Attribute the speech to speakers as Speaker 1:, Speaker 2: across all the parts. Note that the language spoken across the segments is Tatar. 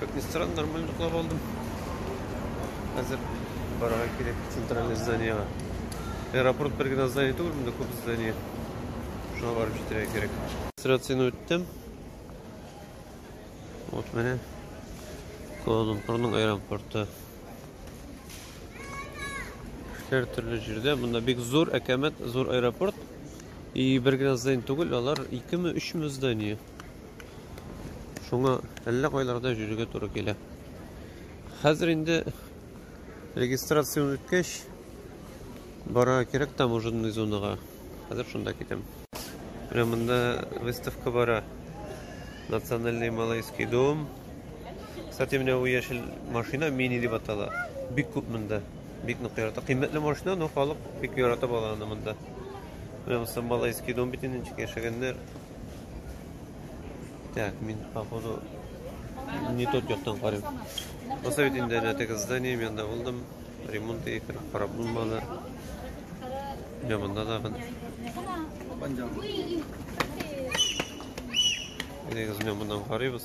Speaker 1: Как ни странно, нормально йоклап алдым. Хәзер барырга кирәк центральный зданиега. Аэропорт бер генә здание түгел, монда күп здание. Шуңа барып җитәргә кирәк. Регистрацияне үттем. Вот менә Куала-Лумпурның аэропорты. Һәр төрле җирдә монда бик зур әкәмәт, зур аэропорт. И бер генә здание түгел, алар 2 ме, 3 ме здание. Шуңа әллә кайларда йөрергә туры килә. Хәзер инде регистрацияне үткәч, бара кирәк таможенный зонага. Хәзер шунда китәм. Менә монда выставка бара. Национальный малайский дом. Кстати, менә бу яшел машина мини дип атала. Бик күп монда. Бик нык ярата. Кыйммәтле машина, но халык бик ярата баланы монда. Менә монда малайский дом бит инде яшәгәннәр. Так, мин, походу, не тот яктан карыйм. Посоветуй инде әнә теге здание, мен да булдым. Ремонт итеп карап булмады. Я монда да бен. Негез мен моннан карыйбыз.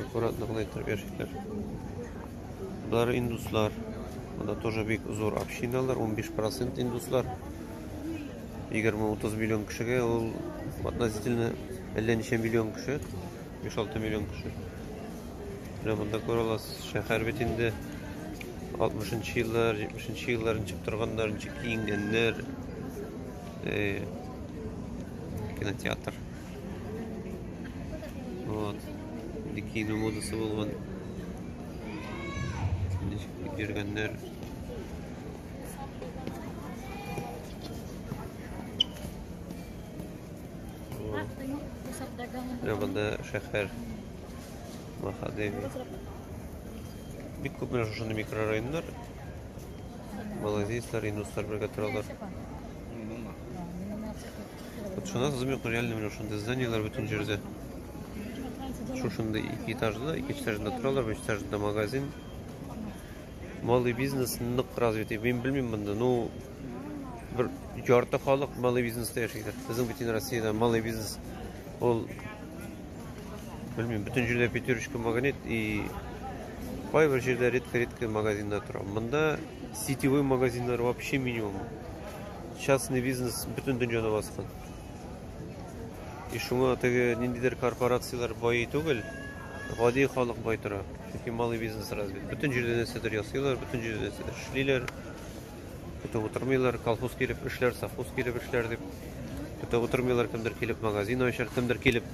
Speaker 1: Аккуратно гына итеп яшиләр. Болар индуслар. Монда тоже бик зур общиналар, 15% индуслар. 20-30 миллион кешегә ул относительно әллә ничә миллион кеше, 5-6 миллион кеше. Менә монда күрә аласыз, шәһәр бит инде 60-нчы еллар, 70-нче еллар ничек торганнар, ничек киенгәннәр. Э, кинотеатр. Вот. Бикини модасы булган. Ничек йөргәннәр. Рәбәндә шәһәр Махадеви. Бик күп менә шушы микрорайоннар. Малайзияләр, индуслар бергә торалар. Вот шунда сызып юк, реально менә шундый зданиеләр бөтен җирдә. Шушындый ике этажлы, ике этажында торалар, бер этажында магазин. Малый бизнес нык развитый. Мин белмим монда, ну бер ярты халык малый бизнеста яшәйдер. Безнең бөтен Россиядә малый бизнес ул белмим, бөтен җирдә пятерочка магнит и кайбер җирдә редко-редко магазинда тора. Монда сетевой магазиннар вообще минимум. частный бизнес бөтен дөньяны баскан. И шуңа теге ниндидер корпорацияләр бай түгел, гади халык бай тора. Чөнки малый бизнес развит. Бөтен җирдә нәрсәдер ясыйлар, бөтен җирдә нәрсәдер эшлиләр. Көтеп утырмыйлар, колхоз килеп эшләр, совхоз килеп эшләр дип. Көтеп утырмыйлар, кемдер килеп магазин ачар, кемдер килеп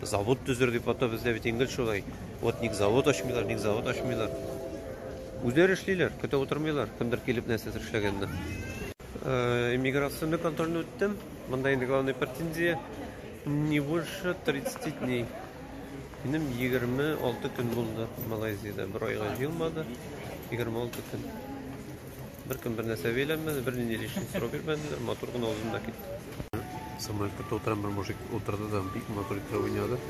Speaker 1: завод төзер дип ата бездә бит ингел шулай. Вот ник завод ачмыйлар, ник завод ачмыйлар. Үзләре эшлиләр, көтә утырмыйлар, кемдер килеп нәрсәдер эшләгәнне. Иммиграционный контрольне үттем. Монда инде главный претензия не больше 30 дней. Минем 26 көн булды Малайзиядә. Бер айга җыелмады. 26 көн. Беркем бер нәрсә бәйләнмәде, бернинди лишний сорау бирмәделәр, матур гына узым да китте. Самолетка тотырам бер мужик утырды да бик матур итеп уйнады.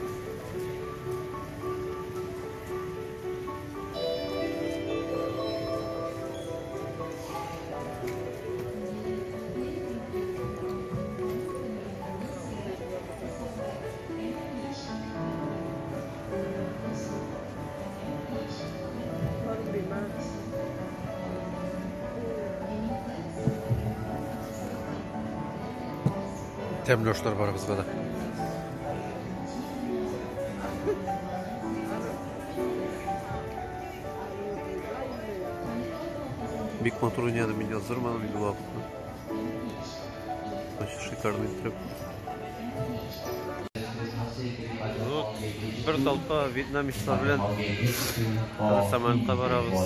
Speaker 1: Тәмле ашлар барыбызга да. Бик матур уйнады, мин яздырмадым инде вакытны. Очень шикарный трюк. Вот, бір толпа вьетнамецтар белән самолетка барабыз.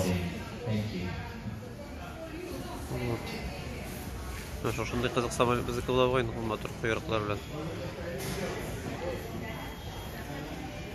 Speaker 1: Вот. Менә шушындый кызык самолет безнеке була бугай, матур койрыклар белән.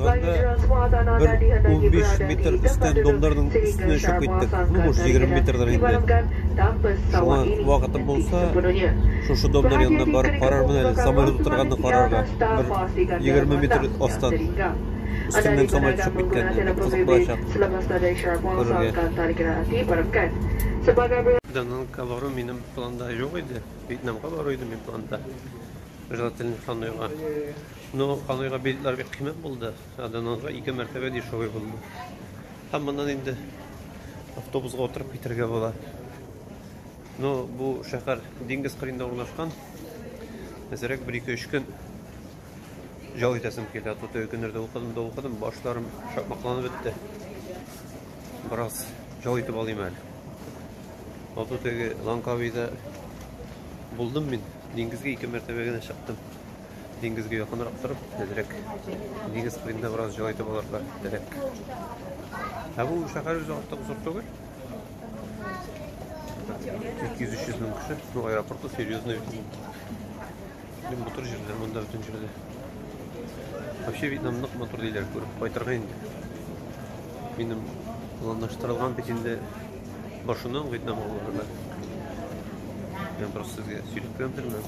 Speaker 1: барганда, бер унбиш метр өстән домнарның өстенә очып киттек. Ну, может, егерме метрдыр инде. Шуңа вакытым булса, шушы домнар янына барып карармын әле, самолет утырганны карарга, бер егерме метр астан, өстемнән самолет очып киткәнне, бик кызык булачак күрергә. Данангка бару минем планда юк иде, Вьетнамга бару иде минем планда, желательно Ханыйга. Ну, аныйга билетлар бик кыйммәт булды. Аденанга ике мәртәбә дешевый булды. Һәм моннан инде автобусга утырып китергә була. Ну, бу шәһәр диңгез кырында урнашкан. Әзерәк бер ике өч көн ял итәсем килә. Тут көннәрдә укыдым да укыдым, башларым шапмакланып бетте. Бераз ял итеп алыйм әле. Ото теге Ланкавида булдым мин. Диңгезгә ике мәртәбә генә чыктым. диңгезгә якынрак торып, әзрәк диңгез кырында бераз җылы итеп алырга теләк. Ә бу шәһәр үзе артык зур түгел. 200-300 мең кеше, ну аэропорты серьезный. Бу матур җирләр монда бөтен җирдә. Вообще Вьетнам нык матур диләр, күреп кайтырга инде. Минем планлаштырылган бит инде башыннан Вьетнамга барырга. Мен просто сирек плентермен.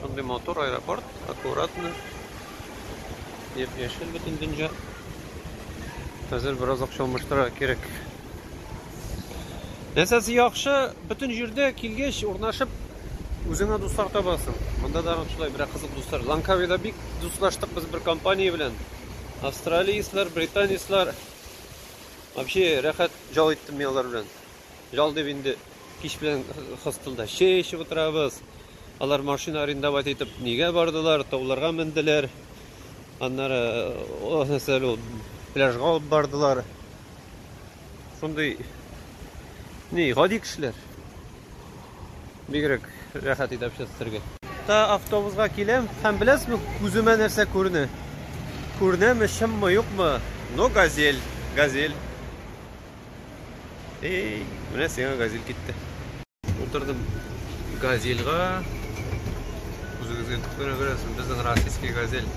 Speaker 1: Шундый матур аэропорт, аккуратно. Яп яшел бөтен дөнья. Хәзер бераз акча алмаштыра кирәк. Нәрсәсе яхшы, бөтен җирдә килгәч урнашып үзеңә дуслар табасың. Монда да шулай бер кызык дуслар. Ланкавида бик дуслаштык без бер компания белән. Австралияслар, британецлар. Вообще рәхәт җал иттем мин алар белән. Ял дип инде кич белән хостелда чәй эчеп утырабыз. Алар машина арендовать итеп нигә бардылар, тауларга менделәр. Аннары нәрсә ул пляжга алып бардылар. Шундый ни гади кешеләр. Бигрәк рәхәт иде общаться итәргә. Та автобусга киләм һәм беләсезме, күземә нәрсә күренә? Күренәме, чынмы, юкмы? Но газель, газель. Эй, менә сиңа газель китте. Утырдым газельга. Үзегезгә күрә күрәсез, безнең российский газель.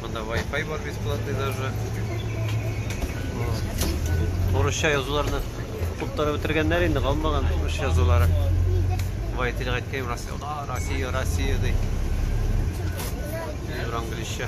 Speaker 1: Монда Wi-Fi бар бесплатный даже. Урысча язуларны куптарып бетергәннәр инде, калмаган урысча язулары. Водитель әйткән Россия, Россия, Россия ди. Юр английча.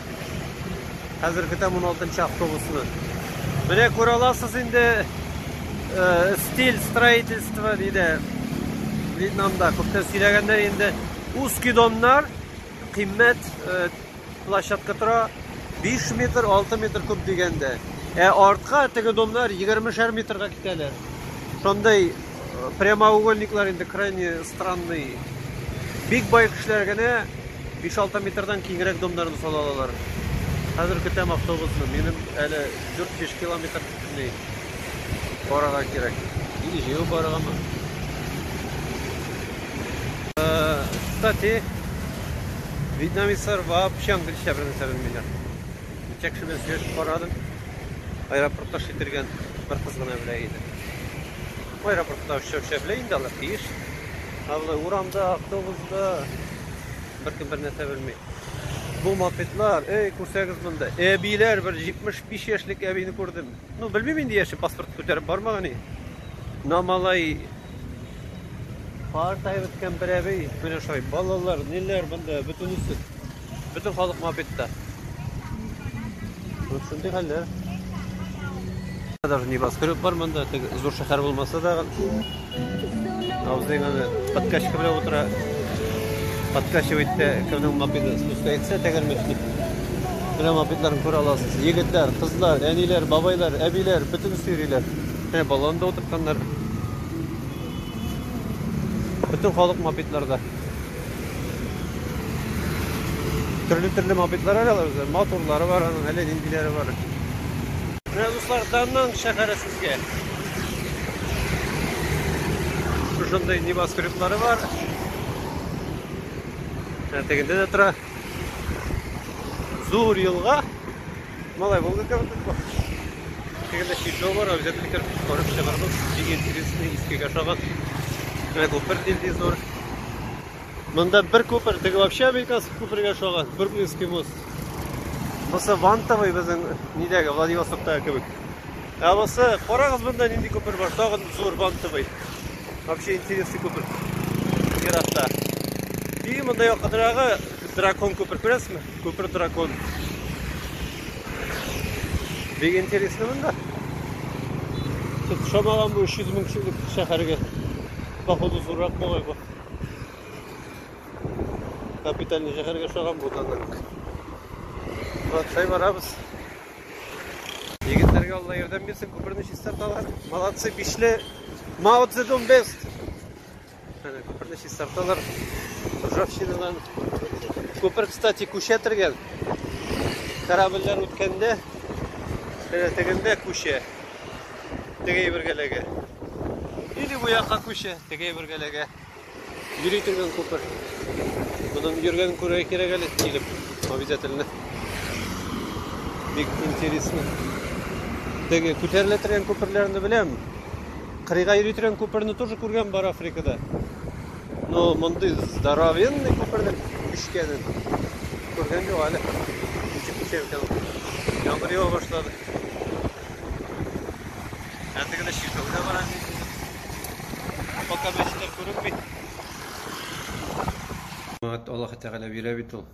Speaker 1: Хәзерге тәм 16 автобусны. Менә күрә аласыз инде э, стиль строительства диде Вьетнамда. Күптән сөйләгәннәр инде. Үз кидоннар кыйммәт э, площадка тора 5 метр, 6 метр күп дигәндә. Ә артка теге домнар 20 метрга китәләр. Шундый э, прямоугольниклар инде крайне странный. Бик бай кешеләр генә 5-6 метрдан киңрәк домнарны сала алалар. Хәзер көтәм автобусны. Минем әле 4-5 километр бөтенләй барырга кирәк. Или җәяү барыргамы? Э, кстати, вьетнамецлар вообще английский белән сөйләмиләр. Ничек шуны сөйләшеп карадым. Аэропортта шитергән бер кыз гына белә иде. Аэропортта очып шәпле инде алар тиеш. Аллы урамда, автобуста беркем бер нәрсә белми. Бу мопедлар, эй, күрсәгез монда. Әбиләр бер 75 яшьлек әбине күрдем. Ну, белмим инде яше, паспорт күтәреп бармаган и. На малай Картайып беткән бер әби, менә шулай балалар, ниләр монда, бөтенесе. Бөтен халык мопедта. Вот шундый хәлләр. Даже небоскреб бар монда, теге зур шәһәр булмаса да. Абзыйга подкачка белән утыра. Подкачивает кемнең мопеды спускается тәгәрмәч дип. Менә мопедларын күрә аласыз. Егетләр, кызлар, әниләр, бабайлар, әбиләр, бөтен сөйриләр. Менә баланда утыртканнар. Бөтен халык мопедларда. Төрле-төрле мопедлар алалар үзләр. Моторлары бар аның, әле ниндиләре бар. Менә дуслар, Даннан шәһәре сезгә. Шушындай небоскреблары бар. Ә тегендә дә тора. Зур елга. Малай Волга кебек бит бу. Тегендә чиркәү бар, үзәк китер карап чыгардык. Бик интересный, искегә шагат. Менә күпер нинди зур. Монда бер күпер, теге вообще американский күпергә шагат, Бруклинский мост. Бусы вантовый безнең нидәге, Владивостоктагы кебек. Ә бусы, карагыз монда нинди күпер бар, тагын зур вантовый. Вообще интересный күпер. Еракта. И монда якынрагы Дракон күпер күрәсезме? Күпер дракон. Бик интересно монда. Шамаган бу 300 мең кешелек шәһәргә. Походу зуррак бугай бу. Капитальный шәһәргә шаган бу да. Вот, шай барабыз. Егетләргә Алла ярдәм бирсен, күперне чистарталар. Молодцы, бишле. Мао Цзэдун бест. Әнә күперне чистарталар. Ржавчинадан. Күпер, кстати, күчә тергән. Корабльләр үткәндә, әнә тегендә күчә. Теге әйбергәләгә. Или бу якка күчә, теге әйбергәләгә. Йөри торган күпер. Моның йөргән күрә кирәк әле килеп, обязательно. Бик интересно. Теге күтәрелә торган күперләрне беләм. Кырыйга йөри торган күперне тоже күргән бар Африкада. Но мондый здоровенный күперне бишкәнен күргән юк әле. Ничек күчә икән ул? Яңгыр ява башлады. Әле генә чиркәүгә бара инде. Пока мәчетләр күренми. Мат Аллаһ Тәгалә бирә бит ул.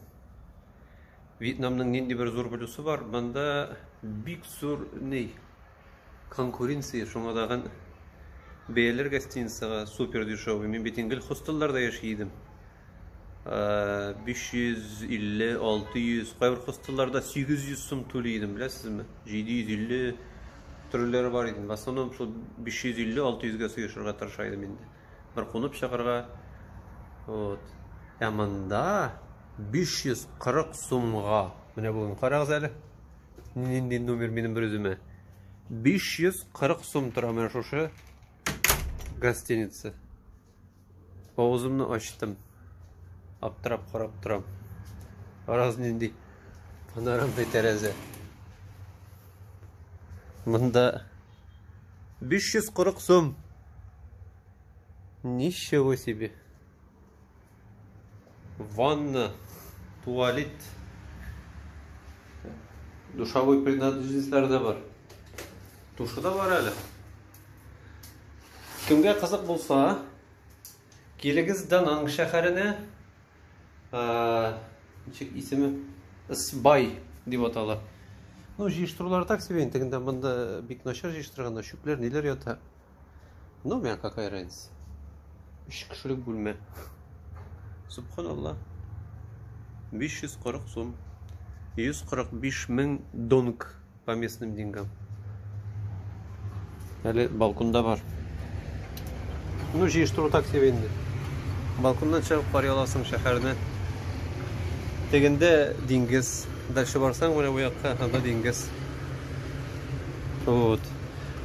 Speaker 1: Вьетнамның нинди бер зур плюсы бар? Монда бик зур ни Конкуренция шуңа тагын бәяләр гостиницага супер дешевый. Мин бит гел хостелларда яши идем. 550, 600, кайбер хостелларда 800 сум түли идем, беләсезме? 750 төрләре бар иде. В основном шул 550-600 гә сыешырга тырыша идем инде. Бер кунып чыгарга. Вот. Ә монда 540 сумга. Менә бүген карагыз әле. Нинди номер минем бер үземә? 540 сум тора менә шушы гостиница. Авызымны ачтым. Аптырап карап торам. Раз нинди панорамный тәрәзә. Монда 540 сум. Ничего себе. Ванна, туалет, душовой принадлежностьләр дә бар. Душы да бар әле. Кемгә кызык булса, килегез Дананг шәһәренә. Ничек исеме? Сбай дип атала. Ну, җыештырулар так себе интегендә монда бик начар җыештырганнар, чүпләр, ниләр ята. Ну, меня какая разница. Үч кешелек бүлмә. Субханалла. 540 сум. 145 мең донг по местным деньгам. Әле балконда бар. Ну, җыештыру так себе инде. Балконнан чыгып карый аласың шәһәрне. Тегендә диңгез. Дальше барсаң, менә бу якка, анда диңгез. Вот.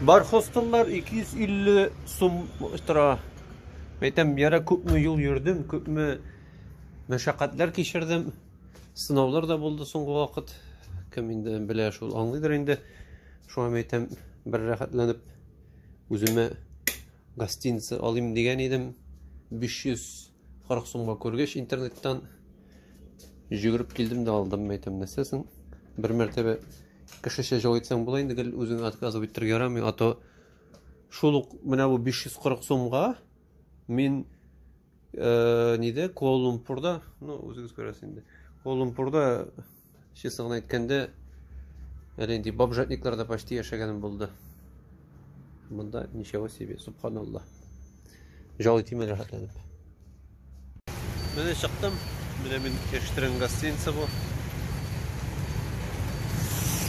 Speaker 1: Бархостоннар 250 сум тора. Әйтәм, яра күпме юл йөрдем, күпме мәшәкатьләр кичердем. Сынаулар да булды соңгы вакыт. Кем инде белә шул аңлыйдыр инде. Шуңа әйтәм, бер рәхәтләнеп үземә гостиница алыйм дигән идем. 500 40 сумга күргәч интернеттан җөгереп килдем дә алдым мәйтәм нәрсәсен бер мәртәбә кешечә җылы итсәң була инде гел үзең отказывать итәргә ярамый а то шул ук менә бу 540 сумга мин э, ниде куала лумпурда ну үзегез күрәсез инде куала лумпурда Честно гына әйткәндә, әле инде бомжатникларда почти яшәгәнем булды. Монда ничего себе, субханаллах. Жал итим әле рәхәтләнеп. Менә чыктым. Менә мин яшьтергән гостиница бу.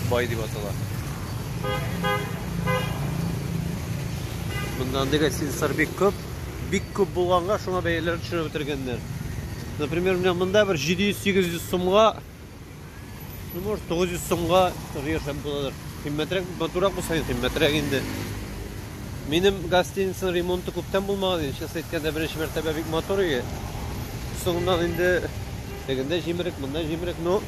Speaker 1: Бай дип атала. Монда андый гостиницалар бик күп. Бик күп булганга шуңа бәяләрен төшереп бетергәннәр. Например, менә монда бер 700-800 сумга, ну, может, 900 сумга тоже яшәп буладыр. Кыйммәтрәк, матурак булса, кыйммәтрәк инде. Минем гостиницаның ремонты күптән булмаган инде, честно әйткәндә, беренче мәртәбә бик матур иде. Соңыннан инде тегендә җимерек, монда җимерек, но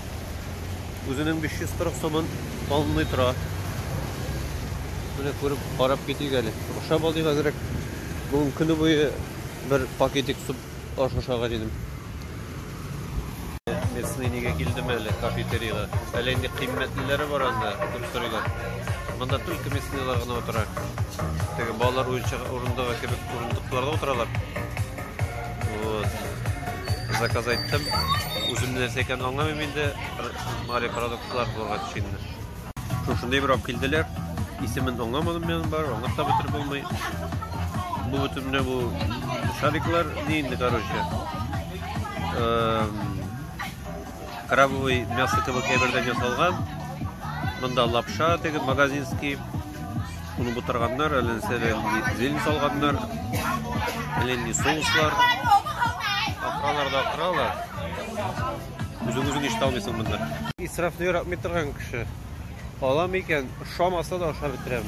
Speaker 1: үзенең 540 сумын алынмый тора. Менә күреп, карап китик әле. Ашап алыйк әзрәк. Бүгін көне буе бер пакетик суп Аш ашарга дидем. Местный нигә килдем әле кафетериягә? Әле инде кыйммәтлеләре бар анда, күп сорыйлар. Монда только местныйлар гына утыра. Теге балалар уенчык урындыгы кебек урындыкларда утыралар. Вот. Заказ айттым. Үзем нәрсә икәнен аңламыйм инде. Мари продуктлар булырга тиеш инде. Шушындый бер килделәр. Исемен аңламадым мен бар, аңлап та бетереп булмый. Бу бөтенләй бу шариклар ни инде, короче. Крабовый мясо кебек әйбердән ясалган. Монда лапша теге магазинский. Уны бутырганнар, әле зелень салганнар. Әле соуслар. Акралар да акралар. Үзең үзең ишетә алмыйсың монда. Исрафны яратмый торган кеше. Алам икән, ошамаса да ашап бетерәм.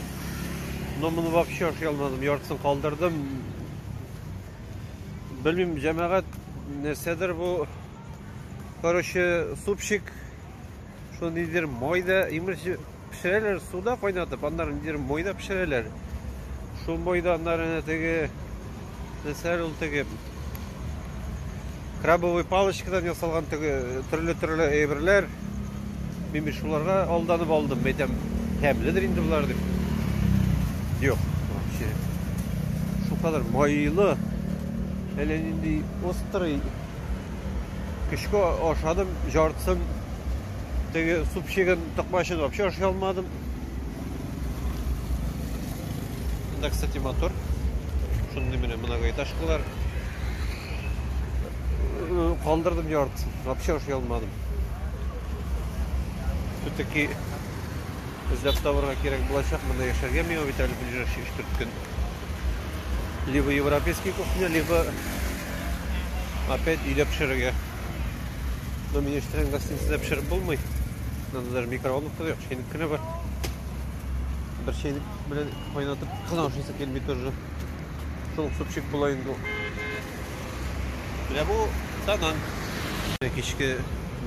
Speaker 1: Но моны вообще ашый алмадым, яртысын калдырдым. Белмим, җәмәгать нәрсәдер бу. Короче, супчик Шул нидер мойда, имеш пешерәләр суда кайнатып, аннары нидер мойда пешерәләр. Шул мойда аннары әнә теге нәрсәләр ул теге крабовый палочкадан ясалган теге төрле-төрле әйберләр. Мин шуларга алданып алдым, әйтәм, тәмледер инде болар дип. Юк, вообще. Шул кадәр майлы, әллә нинди острый Көчкә ашадым, жартысын теге супчигын токмачын вообще ашый алмадым. Монда, кстати, мотор. Шундый менә многоэтажкалар. Калдырдым жартысын, вообще ашый алмадым. Все-таки эзләп табырга кирәк булачак, монда яшәргә миңа бит әле ближайший 3-4 көн. Либо европейский кухня, либо опять өйдә пешерергә. Но меня ишетелгән гостиницада пешереп булмый. Надо даже микроволновка юк, чәйнек кенә бар. Бер чәйнек белән кайнатып кына ашыйсы килми тоже. Шул супчик була инде ул. Менә бу данан. Кичке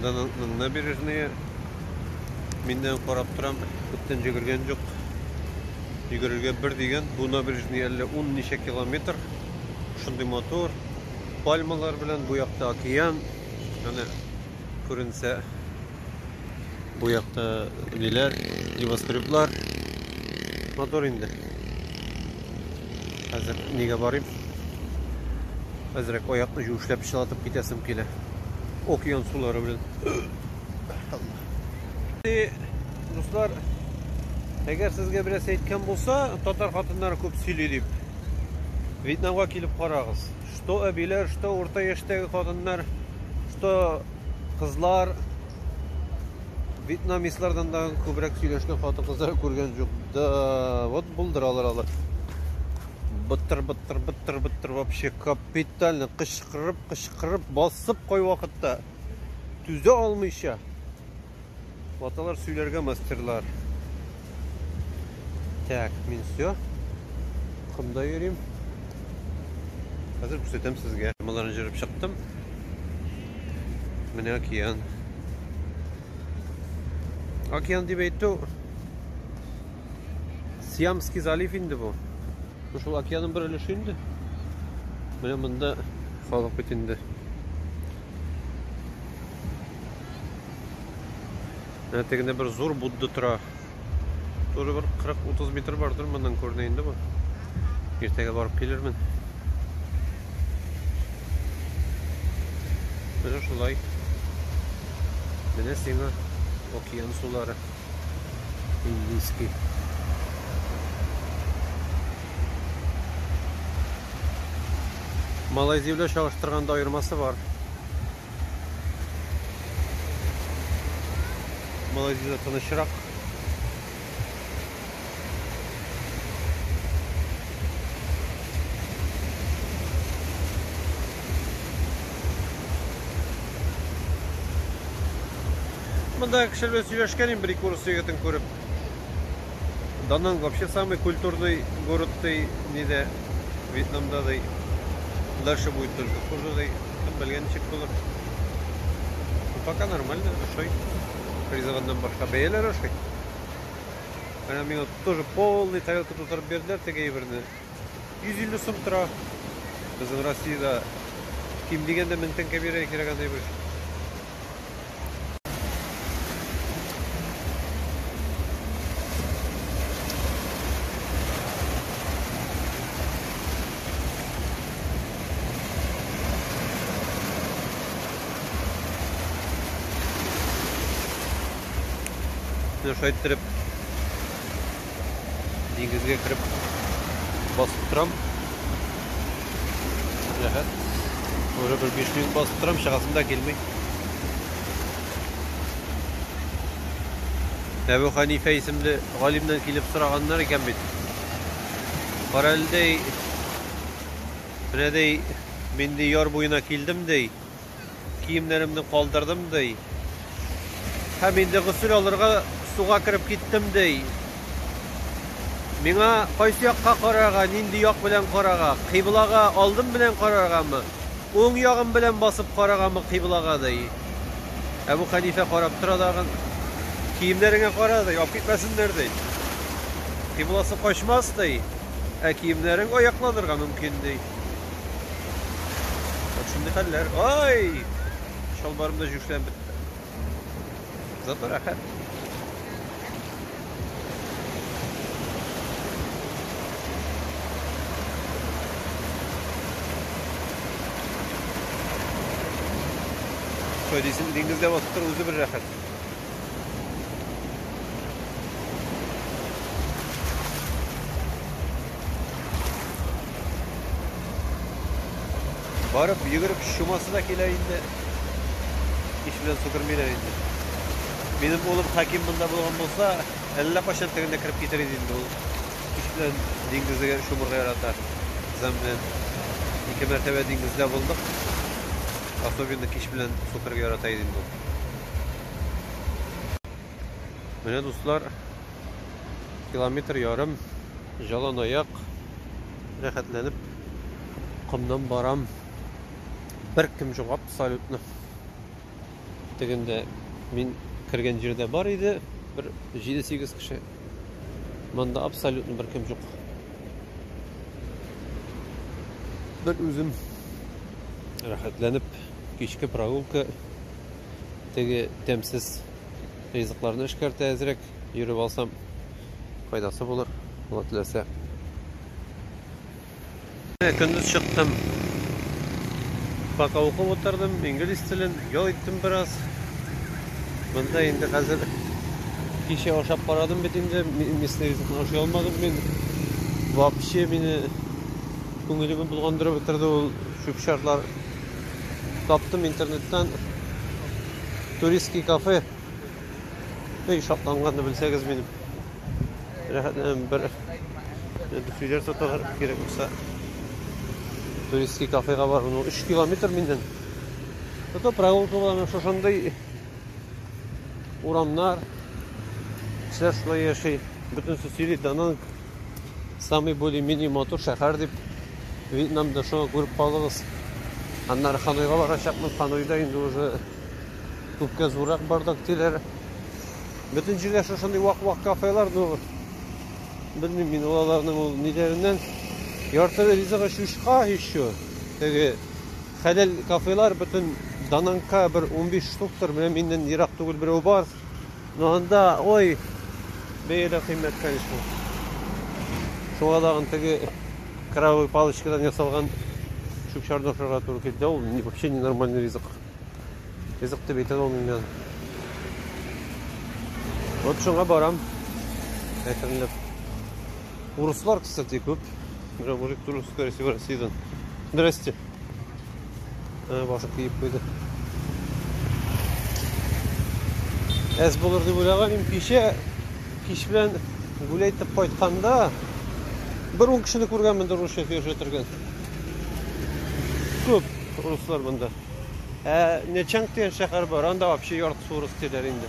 Speaker 1: дананның набережные. Миннән карап торам, күптән җөгергән юк. Йөгерергә бер дигән, бу набережный әллә ун ничә километр. Шундый матур. Пальмалар белән бу якта океан. Менә күренсә. Бу якта ниләр? Небоскреблар. Матур инде. Хәзер нигә барыйм? Әзрәк аякны юешләп чылатып китәсем килә. Океан сулары белән. Дуслар, әгәр сезгә берәс әйткән булса, татар хатыннары күп сөйли дип, Вьетнамга килеп карагыз. Что әбиләр, что урта яшьтәге хатыннар, что кызлар вьетнамистлардан да күбрәк сөйләшкән хатын-кызлар күргән юк. Да, вот булдыралар алар. Быттыр, быттыр, быттыр, быттыр вообще капитально кычкырып, кычкырып, басып кой вакытта. түзә алмыйча, ваталар сөйләргә мастерлар. Так, мин все. Комда йөрим. Хәзер күрсәтәм сезгә. Маларны җырып чыктым. Менә океан. Океан дип әйтү Сиамский залив инде бу. Бу шул океанның бер өлеше инде. Менә монда халык бит инде. Менә тегендә бер зур Будда тора. Тоже бер 40-30 метр бардыр моннан күренә инде бу. Иртәгә барып килермен. Менә шулай. Менә сиңа океан сулары. Індійський. Малайзия белән чагыштырганда аермасы бар. Малайзиядә тынычрак. Монда кеше белән сөйләшкәнем бер ике урыс егетен күреп. Дананг вообще самый культурный город ди, ниде Вьетнамда ди. Дальше будет только хуже ди. Кем белгән ничек булыр. Ну, пока нормально, ошый. Призываннан башка бәяләр ошый. Менә миңа тоже полный тарелка тутырып бирделәр теге әйберне. 150 сум тора. Безнең Россиядә ким дигәндә 1000 тәңкә бирә кирәк андый бер. Менә шайттереп диңгезгә кереп басып торам. Рәхәт. Уже бер 5 минут басып торам, чыгасым да килми. Әбу Ханифә исемле галимнән килеп сораганнар икән бит. Каралдей, менә дей, мин дей яр буена килдем дей. Киемнәремне калдырдым, ди. Һәм инде госел алырга суга кереп киттем, ди. Миңа кайсы якка карарга, нинди як белән карарга? Кыйблага алдым белән караргамы? Уң ягым белән басып караргамы кыйблага, ди. Әбу Хәнифә карап тора дагын. Киемнәреңә кара, ди, алып китмәсеннәр, ди. Кыйбласы качмас, ди. Ә киемнәрең аякланырга мөмкин, ди. Вот шундый хәлләр. Ай! Чалбарым да җүшләп бетте. Зато рәхәт. Что, диңгездә басып тору үзе бер рәхәт. Барып, йөгереп шумасы да килә инде. Иш белән су кермиләр инде. Минем улым Хаким монда булган булса, әллә кайчан тегендә кереп китер иде инде ул. Иш белән диңгезгә шумырга ярата. Зам белән ике мәртәбә диңгездә булдык. Особенно кич белән су керергә ярата иде инде ул. Менә дуслар, километр ярым җалан аяк рәхәтләнеп комнан барам. Бер кем җок абсолютно. Тегендә мин кергән җирдә бар иде, бер 7-8 кеше. Монда абсолютно бер кем җок. Бер үзем рәхәтләнеп кичке прогулка теге тәмсез ризыкларны эшкәртә әзрәк йөреп алсам файдасы булыр алла теләсә көндез чыктым пока укып утырдым инглиз телен ял иттем бераз монда инде хәзер кичә ашап карадым бит инде местный ризыкны ашый алмадым мин вообще мине күңелемне болгандырып бетерде ул чүп-чарлар Таптым интернеттан туристский кафе. Эй, шатланганны белсәгез минем. Рәхәтләнәм бер. Дүфиләр тоталар кирәк булса. Туристский кафега бар. Ну, 3 километр миннән. Это прогулка була шушындый урамнар. Кешеләр шулай яши. Бөтенесе сөйли, данан Самый более менее матур шәһәр дип Вьетнамда шуны күреп калыгыз. Аннары Ханойга барачакмын. Ханойда инде уже күпкә зуррак бардак диләр. Бөтен җирдә шушындый вак-вак кафелар, ну белмим мин аларның ул ниләреннән. Ярты ризыгы шушка еще. Теге хәләл кафелар бөтен Дананка бер 15 штуктыр, менә миннән ерак түгел берәү бар. Ну анда, ой, бәяләр кыйммәт, конечно. Шуңа тагын теге кровавый палочкадан ясалган чүп-чарны ашарга туры килде. Ул вообще ненормальный ризык. Ризык дип әйтә алмыйм мин. Вот шуңа барам. Әкренләп. Урыслар, кстати, күп. Мужик туры, скорее всего, Россиядан. Здрасте. Ә, басып киеп куйды. Әз булыр дип уйлаган мин кичә кич белән гүләй итеп кайтканда бер ун кешене күргәнмен дә русча сөйләшә торган. Күп руслар монда. Ә Нечанг дигән шәһәр бар, анда вообще яртысы урыс диләр инде.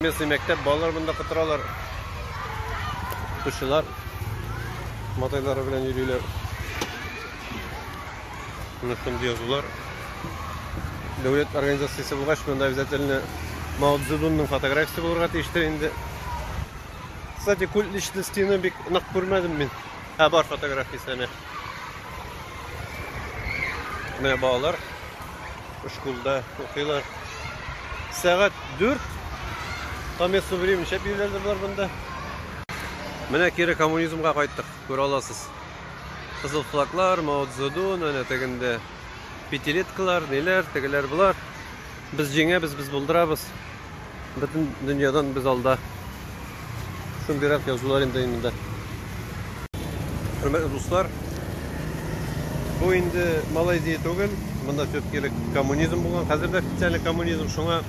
Speaker 1: Местный мәктәп балалар монда кытыралар. Укучылар матайлары белән йөриләр. Менә шундый язулар. Дәүләт организациясе булгач, монда обязательно Мао Цзэдунның фотографиясе булырга тиештер инде. Кстати, культ личностены бик нык күрмәдем мин. Ә бар фотографиясе әнә. Менә балалар школда укыйлар. Сәгать 4 там ясу времени шәп йөреләләр болар монда. Менә кире коммунизмга кайттык, күрә аласыз. Кызыл флаглар, Мао Цзэдун, әнә тегендә пятилеткалар, ниләр, тегеләр булар. Без җиңәбез, без булдырабыз. Бөтен дөньядан без алда. Шундыйрак язулар инде инде. Хөрмәтле дуслар, бу инде Малайзия түгел, монда все-таки коммунизм булган. Хәзер дә официальный коммунизм, шуңа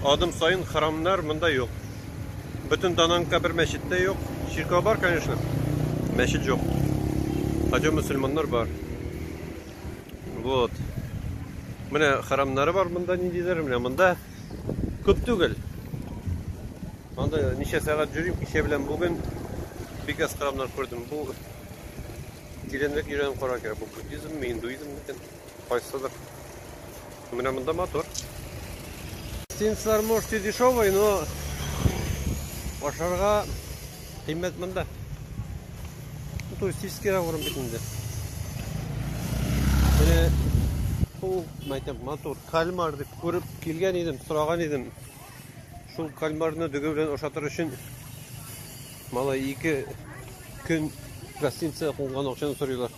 Speaker 1: адым саен храмнар монда юк. Бөтен Дананка бер мәчет тә юк. Чиркәү бар, конечно, мәчет юк. Хотя мөселманнар бар. Вот. Менә храмнары бар монда ниндидер, менә монда күп түгел. Монда ничә сәгать йөрим, кичә белән бүген бик аз храмнар күрдем. Бу тирәнрәк йөргән кара кирәк. Бу буддизм, индуизм микән? Кайсыдыр. Менә монда мотор. Гостиницалар, может, и дешевый, но ашарга Кыйммәт монда. Бу туристический район бит инде. Менә бу мәйтәм матур кальмар дип күреп килгән идем, сораган идем. Шул кальмарны дөге белән ашатыр өчен малай ике көн гостиница кунган акчаны сорыйлар.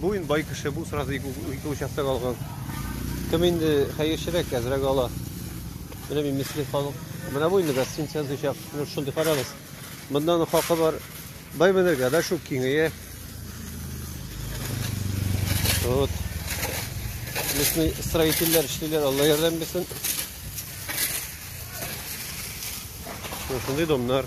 Speaker 1: Бу инде бай кеше, бу сразу ике участок алган. Кем инде хәерчерәк әзрәк ала. Менә мин мисле халык. Менә бу инде гостиница язучак. Ну шундый карагыз. Мондан хакы бар. Бай менергә дә шул киңәя. Вот. Лесный строительләр эшлиләр, Алла ярдәм бирсен. Шундый домнар.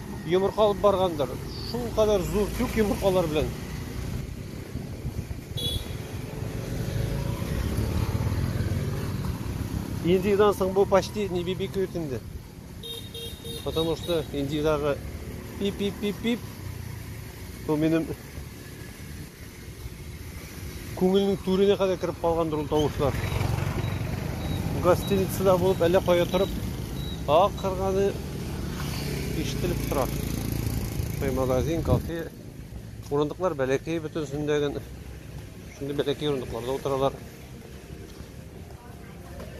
Speaker 1: Йомырка алып баргандыр. Шул кадәр зур күк йомыркалар белән. Индидан соң бу почти не бибикует инде. Потому что индидагы пип-пип-пип-пип. Бу минем Күңелнең түренә кадәр кереп калгандыр ул тавышлар. Гостиницада булып әллә кая торып акырганы ишетелеп тора. Кай магазин, кафе, урындыклар бәләкәй бөтенсендә генә. Шундый бәләкәй урындыкларда утыралар.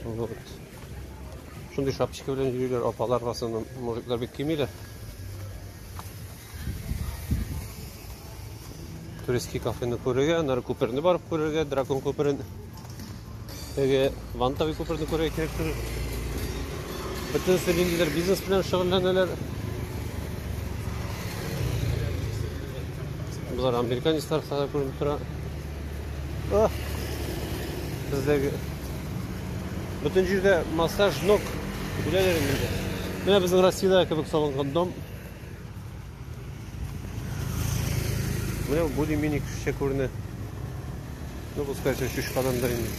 Speaker 1: Вот. Шундый шапочка белән йөриләр апалар, в основном мужиклар бик кимиләр. Туристский кафены күрергә, аннары күперне барып күрергә, дракон күперен, теге вантовый күперне күрергә кирәк түгел. Бөтенесе ниндидер бизнес белән шөгыльләнәләр. Болар американецлар хәзер күренеп тора. Ах! Бездәге бөтен җирдә массаж ног үләләр инде. Менә безнең Россиядә кебек салынган дом. Менә более-менее кешечә күренә. Ну, пускай еще чуть подандыр инде.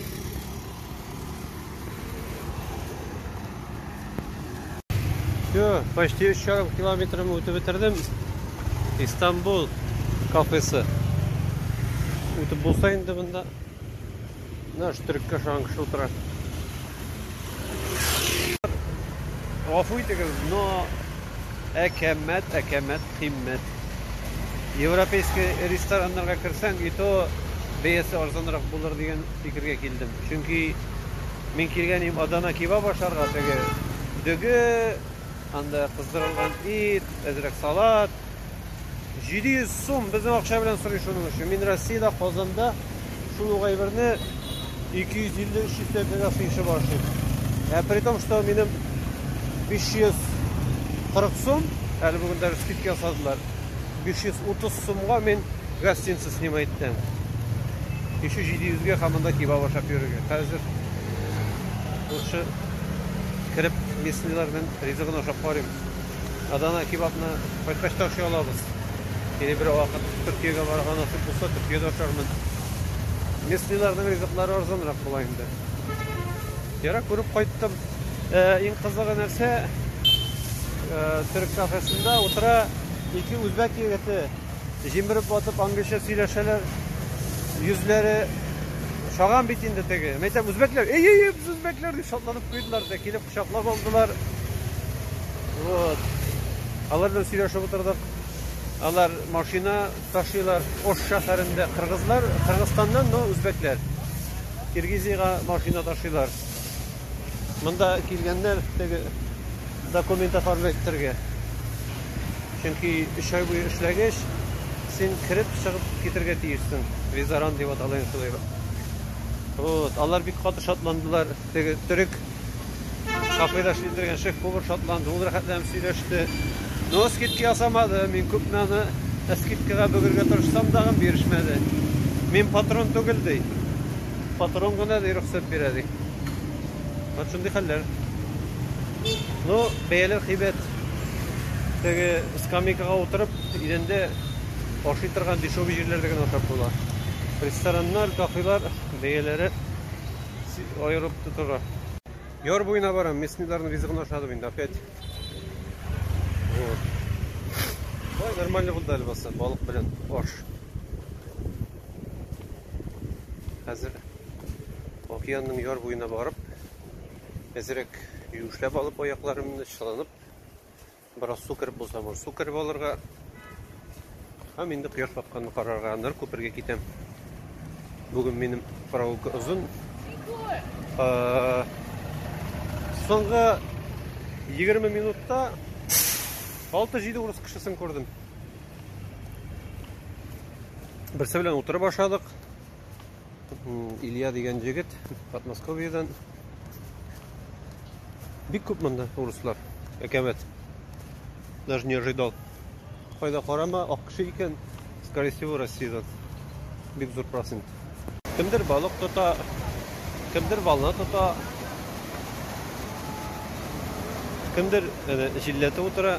Speaker 1: Все, почти еще ярым километрым үтеп бетердем. Истанбул кафесы. Үтеп булса инде монда Наш төреккә ошаган кеше утыра. Гафу итегез, но әкәмәт, әкәмәт, кыйммәт. Европейский рестораннарга керсәң, и то бәясе арзанрак булыр дигән фикергә килдем. Чөнки мин килгән идем Адана кебаб ашарга, теге дөге, анда кыздырылган ит, әзрәк салат, 700 сум безнең акча белән сорый шуның өчен. Мин Россиядә, Казанда шул ук әйберне 250-300 тәңкәгә сыйышып ашыйм. Ә при том, что минем 540 сум, әле бүген даже скидка ясадылар. 530 сумга мин гостиница снимать иттем. Еще 700-гә һәм монда кебаб ашап йөрергә. Хәзер лучше кереп местныйларның ризыгын ашап карыйм. Адана кебабны кайткач та ашый алабыз. Или бер вакыт Төркиягә барырга насыйп булса, Төркиядә ашармын. Местныйларның ризыклары арзанрак була инде. Ярак күреп кайттым. Э, иң кызыгы нәрсә? Э, Төрек кафесында утыра ике үзбәк егете. Җимереп батып англича сөйләшәләр. Йөзләре шаган бит инде теге. Мәйтәм үзбәкләр. Эй, эй, эй, үзбәкләр дип шатланып куйдылар да килеп Кочаклап алдылар. Вот. Алар белән сөйләшеп утырдык. Алар машина ташыйлар. Ош шәһәрендә кыргызлар, Кыргызстаннан, но үзбәкләр. Киргизиягә машина ташыйлар. Монда килгәннәр теге документ оформлять итәргә. Чөнки 3 ай буе эшләгәч, син кереп чыгып китергә тиешсең. Визаран дип атала инде шулай. Вот, алар бик каты шатландылар. Теге төрек Кафеда шилдергән шеф-повар шатланды, ул рәхәтләнеп сөйләште. Но скидка ясамады, мин күпме аны скидкага бөгергә тырышсам да, бирешмәде. Мин патрон түгел ди. Патрон гына ди рөхсәт бирә ди. Вот шундый хәлләр. Ну, бәяләр кыйбат. Теге скамейкага утырып, идәндә ашый торган дешевый җирләрдә генә ашап була. Рестораннар, кафелар бәяләре Аерып тотыра. Яр буена барам, местныйларның ризыгын ашадым инде опять. Вот. Ой, нормально булды әле баса, балык белән аш. Хәзер океанның яр буена барып, әзерәк юешләп алып аякларымны чыланып Бераз су кереп булса, бу су кереп алырга. Һәм инде кояш батканны карарга, аннары күпергә китәм. Бүген минем прогулка озын. Соңгы 20 минутта 6-7 урыс кешесен күрдем. Берсе белән утырып ашадык. Илья дигән җегет Подмосковьедан. Бик күп монда урыслар. Әкәмәт. Даже не ожидал. Кайда карама, ак кеше икән, скорее всего, Россиядән. Бик зур процент. Кемдер балык тота, кемдер волна тота. Кемдер әнә җилләтә утыра.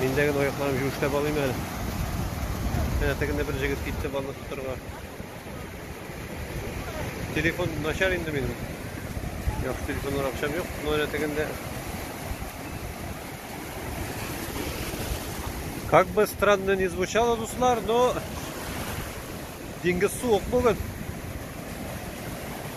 Speaker 1: Миндә генә аякларым җүешләп алыйм әле. Әнә тегендә бер җегет китте балык тотарга. Телефон начар инде минем. Яхшы телефоннар акчам юк. Но әле тегендә. Как бы странно не звучало, дуслар, но деньги суык бүген.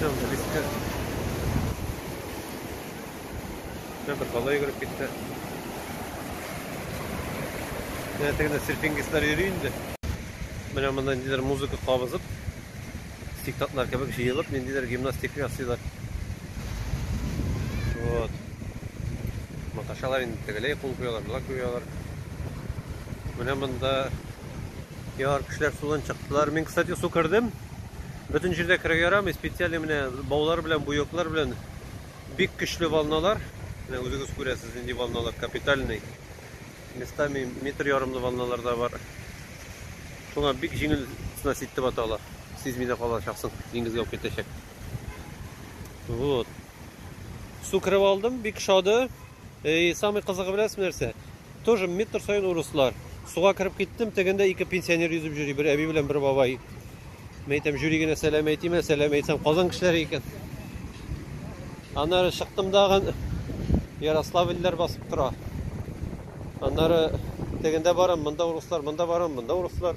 Speaker 1: Тәм белеште. Тәм бер бала йөгереп китте. Менә тегенде серфингистлар йөри инде. Менә монда ниндидер музыка кабызып, сектантлар кебек җыелып, ниндидер гимнастика ясыйлар. Вот. Маташалар инде тегеләй кул куялар, болай куялар. Менә монда Яр кешеләр судан чыктылар. Мин, кстати, су кердем. Бөтен җирдә керергә ярамый. Специаль менә баулар белән, буяклар белән бик көчле волналар. Менә үзегез күрәсез, нинди волналар капитальный. Местами метр ярымлы волналар да бар. Шуңа бик җиңел снасть итеп ата ала. Сизми дә калачаксың, диңгезгә алып китәчәк. Вот. Су кереп алдым, бик шады. И самый кызыгы беләсең нәрсә? Тоже метр саен урыслар. Суга кереп киттем, тегендә ике пенсионер йөзеп йөри, бер әби белән бер бабай. Мен әйтәм, җөри генә сәлам әйтимә, сәлам әйтсәм, Казан кешеләре икән. Аннары чыктым дагын Ярославльләр басып тора. Аннары тегендә барам, монда урыслар, монда барам, монда урыслар.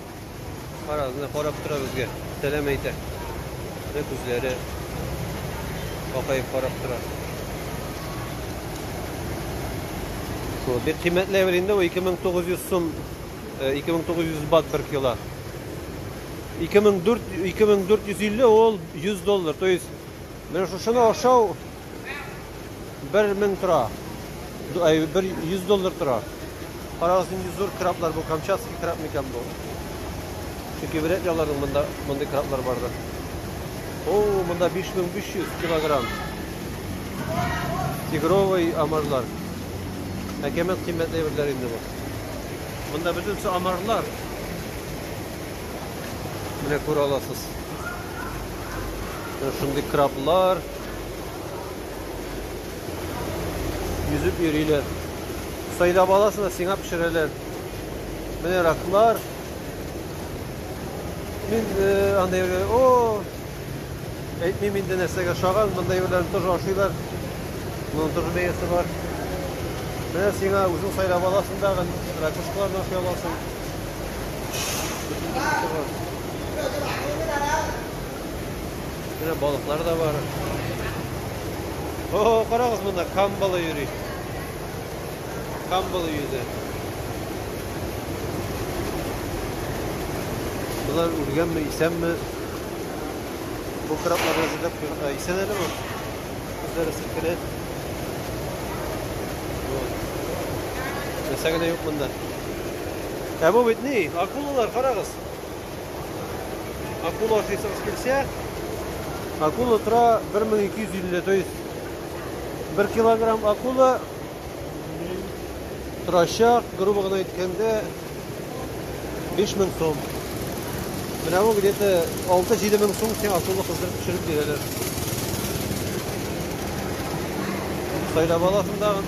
Speaker 1: Кара, менә карап тора безгә. Сәлам әйтә. Менә күзләре бакаеп карап тора. Шул бик кыйммәтле әйбер инде ул 2900 сум 2900 бат бер кило. 2400 2450 ул 100 доллар. То есть менә шушыны ашау Бер мең тора. Ай, бер 100 доллар тора. Карагыз, нинди зур краблар бу, Камчатский краб микән бу? Чөнки вряд ли аларның монда мондый краблар барды. О, монда 5500 килограмм. Тигровый амарлар. Әкәмәт кыйммәтле әйберләр инде бу. Монда бөтенесе амарлар. Менә күрә аласыз. Шундый краблар. Йөзеп йөриләр. Сайда баласын да сиңа пешерәләр. Менә раклар. Мин э, андай бер, о, әйтмим инде нәрсәгә шаган, мындай берләрен тоже ашыйлар. Моның тоже бәясе бар. Менә сиңа үзең сайлап аласың дағы, ракушкаларны ашый аласың. Бөтен нәрсә бар. Менә балыклар да бар. О, карагыз монда камбалы йөри. Камбалы йөзе. Болар үлгәнме, исәнме? Бу краплар әзерләп куйган. Исән әле бу. Үзләре селкенә. Нәрсә генә юк монда. Ә бу бит ни? Акулалар, карагыз. Акула ашыйсыңыз килсә, акула тора 1250, то есть 1 килограмм акула торачак, грубо гына әйткәндә 5000 сум. Менә бу где-то 6-7 мең сум сиңа акула кыздырып төшереп бирәләр. Сайлап аласың тагын.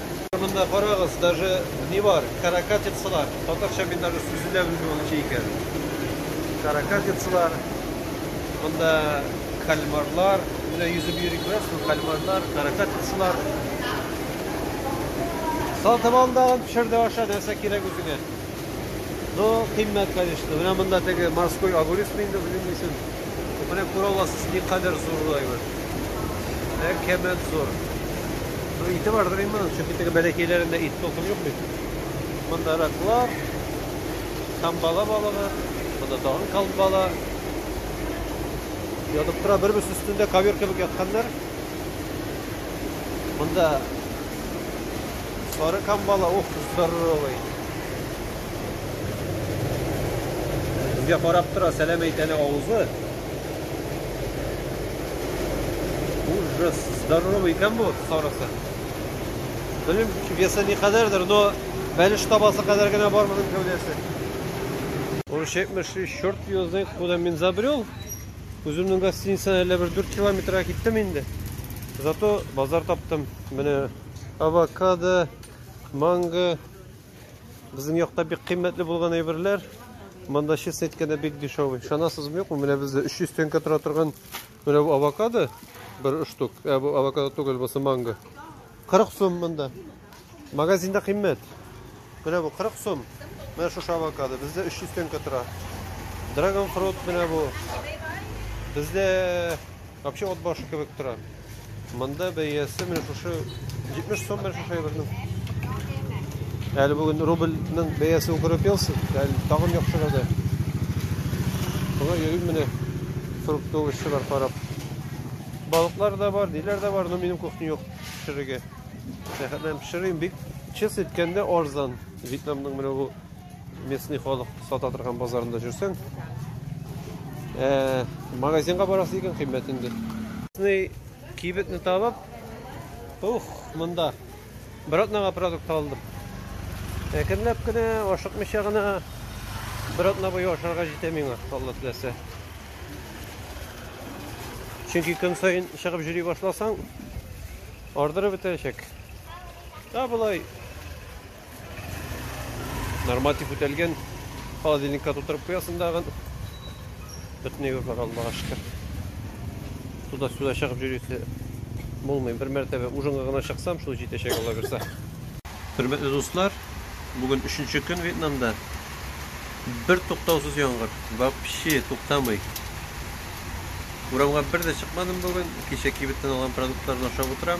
Speaker 1: Монда карагыз, даже не бар, каракатицалар. Татарча мин даже сүзе дә белмим ул ничә икән. Каракатицалар. Монда кальмарлар. Менә йөзеп йөри күрәсезме, кальмарлар, каракатицалар. Сатып ал да пешер дә аша, нәрсә кирәк үзеңә. Ну, кыйммәт, конечно. Менә монда теге морской огурец инде, белмим ничек. Менә күрә аласыз, никадәр зур бу әйбер. Әкәмәт зур. Ну, ите бардыр инде моның, чөнки теге бәләкәйләрендә ит токым юк бит. Монда раклар, камбала балыгы, монда тагын камбала. Ятып тора, бер-берсе өстендә ковер кебек ятканнар. Монда сары камбала, ух, здоровый. Безгә карап тора, сәлам әйт әле авызы. Ужас, здоровый икән бу сарысы. Белмим, весы ни кадәрдер, но бәлеш табасы кадәр генә бар моның гәүдәсе. Ул 73 черт звезды, куда мин забрел. Үземнең гостиницаны әллә бер 4 километрга киттем инде. Зато базар таптым. Менә авокадо, манго, Безнең якта бик кыйммәтле булган әйберләр. Монда честно әйткәндә бик дешевый. Ышанасызмы юкмы? Менә бездә 300 тенге тора торган менә бу авокадо бер штук. Ә бу авокадо түгел, бу манго. 40 сум монда. Магазинда кыйммәт. Менә бу 40 сум. Менә шушы авокадо бездә 300 тенге тора. Драгон фрут менә бу. Бездә Вообще от башы кебек тора. Монда бәясе менә шушы 70 сум менә шушы әйбернең. Әле бүген рубльның бәясе үкереп елсын, әле тагын яхшырады. Болар йөрим менә фруктовышы бар карап. Балыклар да бар, диләр дә бар, но минем кухня юк пешерергә. Сәхәтләм пешерим бик чис иткәндә арзан. Вьетнамның менә бу Местный халык сата торган базарында жүрсәң, э, магазинга барасы икән кыйммәт инде. Местный кибетне табып, ух, монда бер атнага продукт алдым. Әкренләп кенә, ашыкмыйча гына бер атна буе ашарга җитә миңа, Алла теләсә. Чөнки көн сайын чыгып җөри башласаң, ардырып бетерәчәк. Ә болай Норматив үтәлгән. Холодильникка тутырып куясың дагын. Бөтенләй бар Аллаһка шөкер. Туда-сюда чыгып йөрүсе булмый. Бер мәртәбә ужинга гына чыксам, шул җитәчәк ала бирсә. Хөрмәтле дуслар, бүген 3 көн Вьетнамда. Бер туктаусыз яңгыр. Вообще туктамый. Урамга бер дә чыкмадым бүген. Кичә кибеттән алган продуктларны ашап утырам.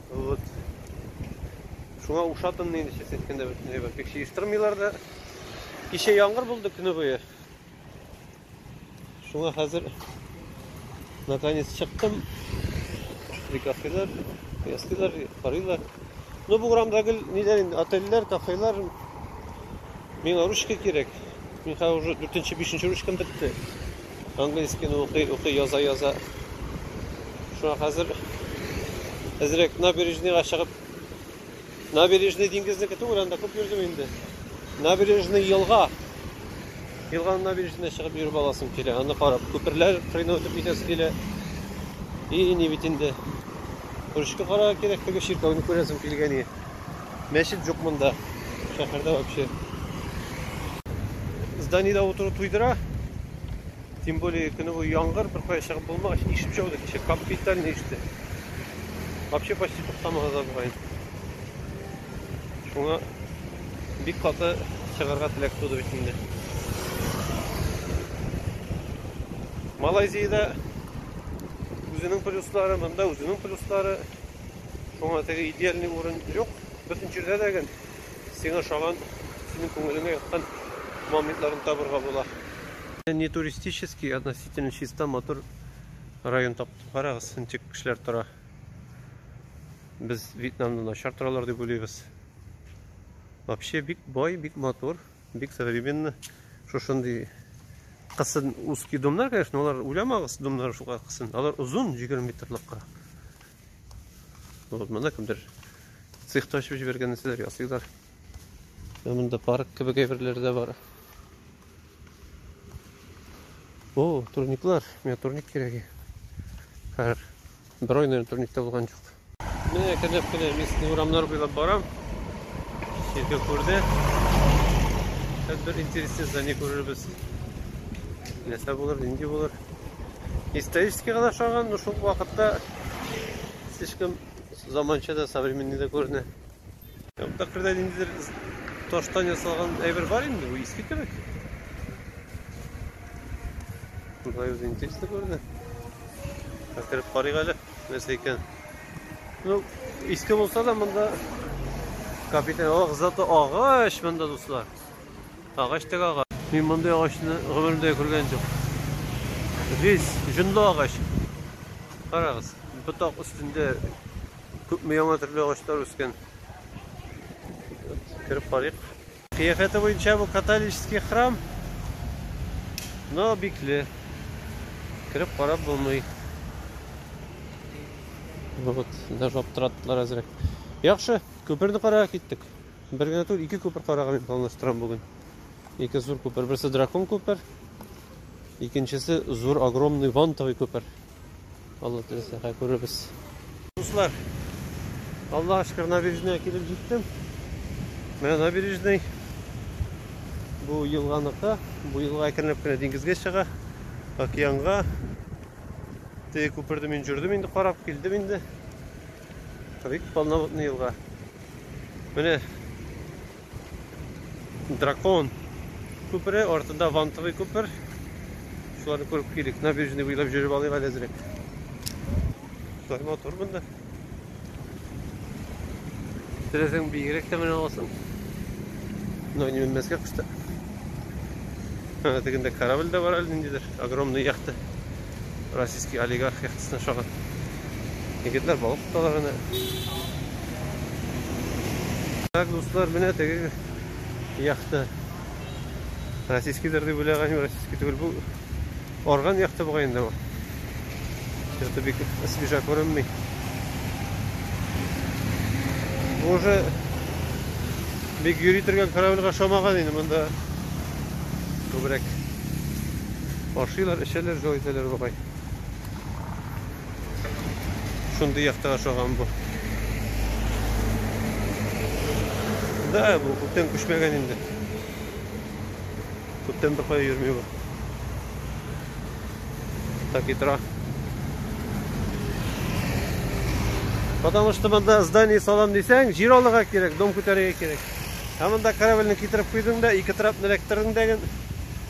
Speaker 1: Вот. Шуңа ушатынмын инде, честно әйткәндә, бөтенләй бер пик җыештырмыйлар да. Кичә яңгыр булды көне буе. Шуңа хәзер наконец чыктым. Прикафелар, ястылар, карыйлар. Ну бу урамда гел ниләр инде, отельләр, кафелар. Миңа ручка кирәк. Мин хәзер уже 4-5 ручкам бетте. Английскийны укый, укый, яза, яза. Шуңа хәзер әзрәк набережныйга чыгып, набережный диңгезнеке түгел, анда күп йөрдем инде. Набережный елга. Елганың набережныйына чыгып йөреп аласым килә. Аны карап, күперләр кырыена үтеп китәсе килә. И, ни бит инде. Күрешкә карарга кирәк, теге чиркәүне күрәсем килгән иде. Мәчет жоқ мында. Шәһәрдә вообще. Зданиеда отыру туйдыра. Тем более көне буе яңгыр, бер кая чыгып булмагач, ишеп чыгу да кичә капитальный иште. Вообще почти туктамады да бугай. Шуңа бик каты чыгарга теләк туды бит инде. Малайзиядә үзенең плюслары, монда үзенең плюслары. Шуңа теге идеальный урын юк. Бөтен җирдә дә гел сиңа ошаган, синең күңелеңә яткан моментларны табырга була. Не туристический, относительно чиста, матур район таптым. Карагыз, ничек кешеләр тора. Без Вьетнамда начар торалар дип уйлыйбыз. Вообще бик бай, бик матур, бик современный. Шушындый кысын узкий домнар, конечно, алар уйламагыз, домнар шулай кысын. Алар озын, 20 метрлыкка. Вот монда кемдер цех та ачып җибәргән нәрсәләр ясыйлар. Монда парк кебек әйберләр дә бар. О, турниклар. Миңа турник кирәге. Хәр. Бер ай наверное турникта булган юк. Менә кенеп кенә местный урамнар буйлап барам. Ширкә күрде. Хәзер бер интересный здание күрербез. Нәрсә булыр, нинди булыр? историческийга да ошаган, но шул вакытта слишком заманча да, современный да күренә. Тәкърдә ниндидер таштан ясалган әйбер бар инде, бу иске кебек. Болай үзе интересно күренә. Кереп карыйк әле, нәрсә икән. Ну, иске булса да монда капитан, ох, зато агач монда дуслар. Агач теге агач. Мин мондый агачны гомеремдә күргән юк. Весь җонлы агач. Карагыз, ботак өстендә күпме яңа төрле агачлар үскән. Кереп карыйк. Кыяфәте буенча бу католический храм. Но бикле. Кереп карап булмый. Вот, даже аптыраттылар әзрәк. Яхшы, күперне карарга киттек. Бер генә түгел, ике күпер карарга мин планлаштырам бүген. Ике зур күпер. Берсе дракон күпер, икенчесе зур огромный вантовый күпер. Алла теләсә, хәй күрербез. Дуслар, Аллаһ шөкер набережная килеп җиттем. Менә набережный. Бу елганыкы, бу елга әкренләп кенә диңгезгә чыга, океанга. Теге күперде мин җөрдем инде, карап килдем инде. Бик полноводный елга. Менә дракон күпере, артында вантовый күпер. Шуларны күреп килик. Набережный буйлап жүреп алыйк әле әзрәк. Шулай матур монда. Теләсәң биегрәк тә менә аласың. Но не менмәскә кышта. Ана тегендә корабль дә бар әле ниндидер огромный яхта. Российский олигарх яхтасына шагыйрь. Егетләр балык тоталар аны. Так, дуслар, менә теге яхта. Российский дөрди бүләгән, российский түгел бу. Орган яхта бугай инде бу. Что-то бик свежа күренми. Бу уже бик йөри торган корабльга шомаган инде монда. Күбрәк ашыйлар, эчәләр, җылы итәләр бугай. Шундый якта ашаган бу. Да, бу күптән күчмәгән инде. Күптән бер кая йөрми бу. Так и тора. Потому что монда здание салам дисәң, җир алырга кирәк, дом күтәрергә кирәк. Ә монда корабльне китереп куйдың да, ике трап эләктердең дә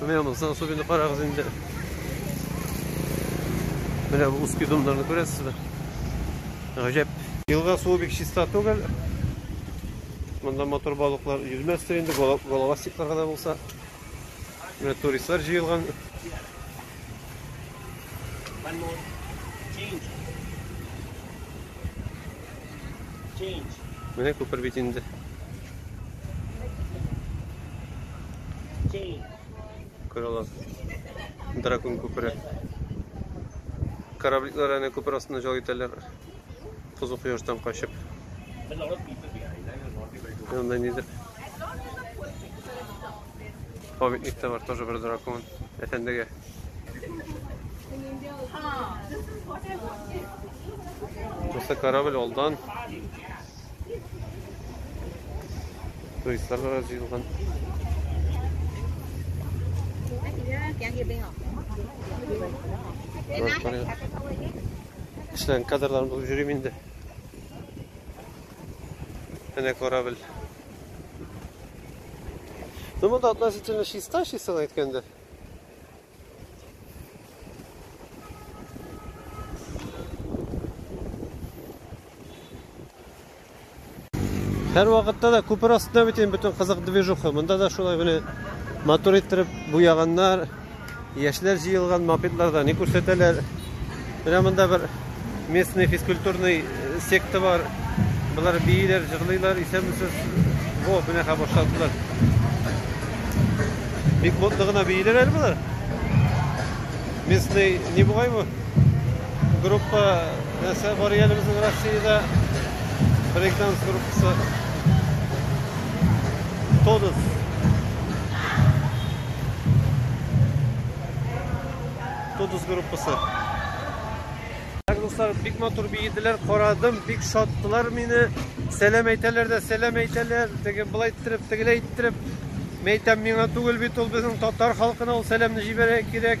Speaker 1: Менә монысы особенно карагыз инде. Менә бу узкий домнарны күрәсезме? Гаҗәп. Елга суы бик чиста түгел. Монда мотор балыклар йөзмәстер инде, головастиклар гына булса. Менә туристлар җыелган. Менә күпер бит инде. Күрә аласыз. Дракон күпере. Корабликлар әнә күпер астына җал итәләр. Кызу кояштан качып. Янда нидер Памятник та бар, тоже бер дракон. Әфәндегә. Тусы корабль алдан. Туристлар да җыелган. Кешеләрнең кадрларын булып йөрим инде. Әнә корабль. Ну, вода относительно чиста, чисто әйткәндә. Һәр вакытта да күпер астында бит инде бөтен кызык движуха. Монда да шулай гына матур иттереп буяганнар, Яшьләр җыелган мопедларда ни күрсәтәләр? Менә монда бер местный физкультурный э, секта бар. Болар бииләр, җырлыйлар, исәнмесез. Во, менә хәзер башладылар. Бик мотлы гына бииләр әле болар. Местный не бугай бу? Группа Нәрсә бар әле безнең Россиядә? Брейкданс группасы. Тонус. Тонус группасы. Так, дуслар, бик матур биеделәр, карадым, бик шаттылар мине. Сәлам әйтәләр дә, сәлам әйтәләр. Теге былай иттереп, тегеләй иттереп. Мәйтәм миңа түгел бит ул безнең татар халкына ул сәламне җибәрә кирәк.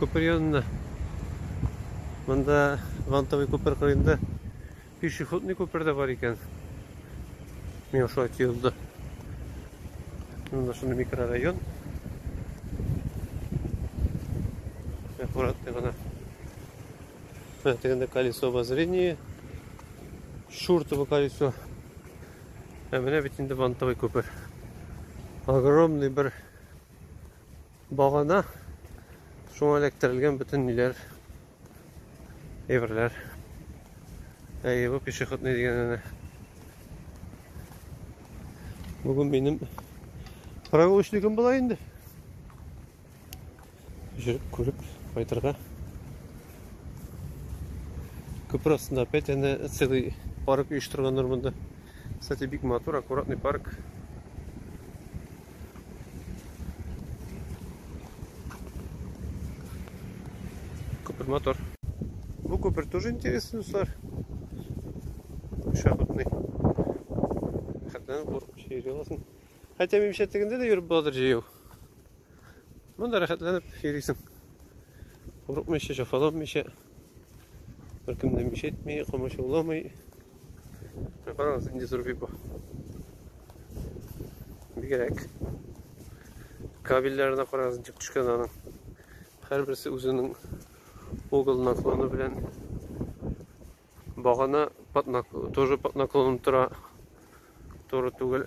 Speaker 1: күпер янына. Монда Вантовый күпер кырыенда пешеходный күпер дә бар икән. Миңа шулай тоелды. Монда шундый микрорайон. Аккуратный гына. Менә тегендә колесо обозрения. Шуртовый колесо. Ә менә бит инде Вантовый күпер. Огромный бер Багана шуңа эләктерелгән бөтен ниләр, әйберләр. Әйе, бу пешеходный дигәненә. Бүген минем прогулочникым була инде. Жүреп күреп кайтырга. Күпер астында опять әнә целый парк оештырганнар монда. Кстати, бик матур, аккуратный парк. Купер мотор. Ну, купер тоже интересный сар. Шахматный. Хәтнән куркып йөри аласың. Хәтта минемчә тегендә дә йөреп буладыр җәяү. Монда рәхәтләнеп йөрисең. Курыкмыйча, җафаланмыйча. Беркем дә мич әйтми, камачауламый. Карагыз, инде зур бик Бигрәк. Кабельләренә карагыз, ничек төшкән аның. Һәрберсе үзенең угол наклоны белән багана тоже под наклоном тора. Туры түгел.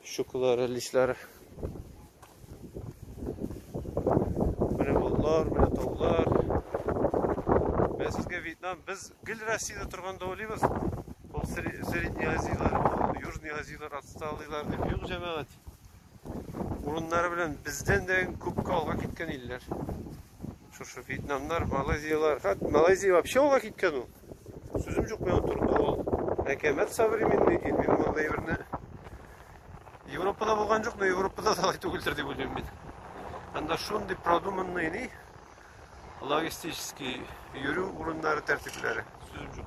Speaker 1: Щукалар, әллисләр. Менә болытлар, менә таулар. Менә сезгә Вьетнам. Без гел Россиядә торганда уйлыйбыз. Ул Средний Азияләр, ул Южный Азияләр отсталыйлар дип. Юк, җәмәгать. Урыннары белән бездән дә күпкә алга киткән илләр. Шушы Вьетнамнар, Малайзияләр. Хәт Малайзия вообще алга киткән ул. Сүзем җук миңа турында ул. Әкәмәт современный дин, мин мондый әйберне Европада булган җук, но Европада да алай түгелдер дип уйлыйм мин. Анда шундый продуманный ни логистический йөрү урыннары тәртипләре сүзем җук.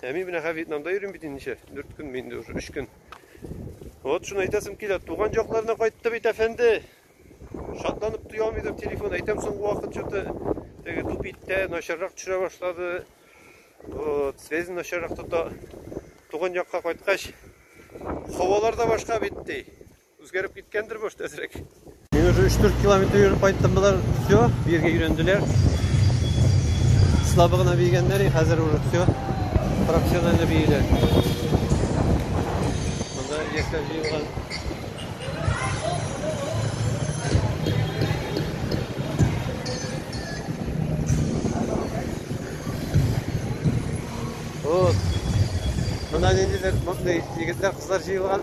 Speaker 1: Ә мин менә Вьетнамда йөрим бит инде дүрт көн инде уже, өч көн. Вот шуны әйтәсем килә, туган якларына кайтты бит әфәнде. Шатланып туя алмыйдыр телефон, әйтәм соңгы вакыт что-то теге тупиттә начаррак төшә башлады. Вот, связь начаррак тота. Туган якка кайткач, хавалар да башка бит ди. Үзгәреп киткәндер, может, әзрәк. Мин уже 3-4 километр йөреп кайттым, болар все, биргә өйрәнделәр. Слабы гына бигәннәр, хәзер уже все, профессионально биеләр. Монда яшьләр җыелган. Вот. Мына ниндидер, мондый егетләр, кызлар җыелган.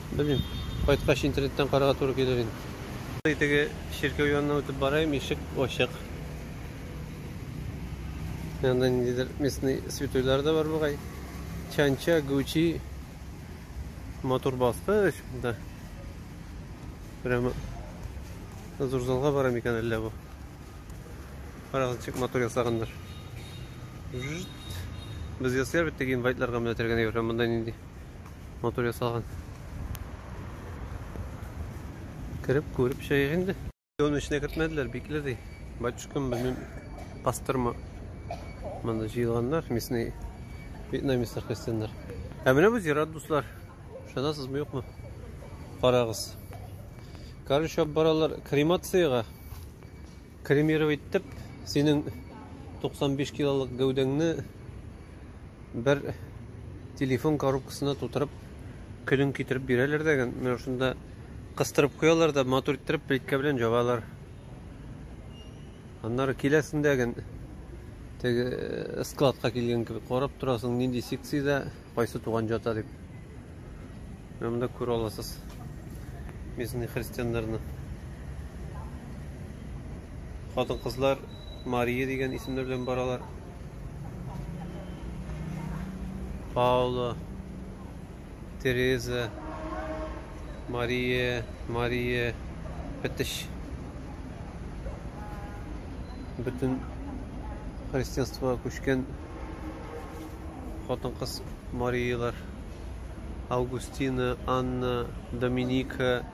Speaker 1: Белмим. Кайткач интернеттан карарга туры килер инде. Теге чиркәү янына үтеп бараем, ишек ачык. Янда ниндидер местный святойлар да бар бугай. Чанча, Гучи, матур баскыч да. Прямо зур залга бара микән әллә бу? Карагызчык матур ясаганнар. Без ясыйлар бит теге инвайтларга менә тергән әйбер, монда нинди? матур ясалган. Кереп күреп чыгыйк инде. Аны эченә кертмәделәр, бикле ди. Батюшкам белмим. Пастырма. Монда җыелганнар, местный вьетнамецлар христианнар. Ә менә бу зират, дуслар. Ышанасызмы, юкмы? Карагыз. Короче, баралар кремацияга. Кремировать итеп, синең 95 килолык гәүдәңне бер телефон коробкасына тутырып, көнең китереп бирәләр дә, менә шунда кыстырып куялар да, матур иттереп плиткә белән җабалар. Аннары киләсендә ген теге э, складка килгән кебек карап торасың, нинди секциядә Кайсы туган җата дип. Менә монда күрә аласыз. Местный христианнарны. Хатын-кызлар Мария дигән исемнәр белән баралар. Паула, Тереза, Мария, Мария, Петиш. Бөтен христианствоға күчкән хатын-кыз марийлар. Августина, Анна, Доминика.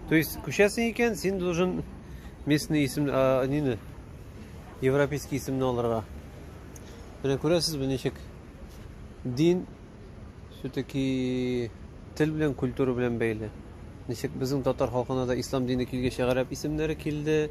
Speaker 1: То есть, күчәсең икән, син должен местный исем, а, нине, европейский исемне алырга. Менә күрәсез, бу ничек дин все-таки тел белән, культура белән бәйле. Ничек безнең татар халкына да ислам дине килгәч, гарәп исемнәре килде.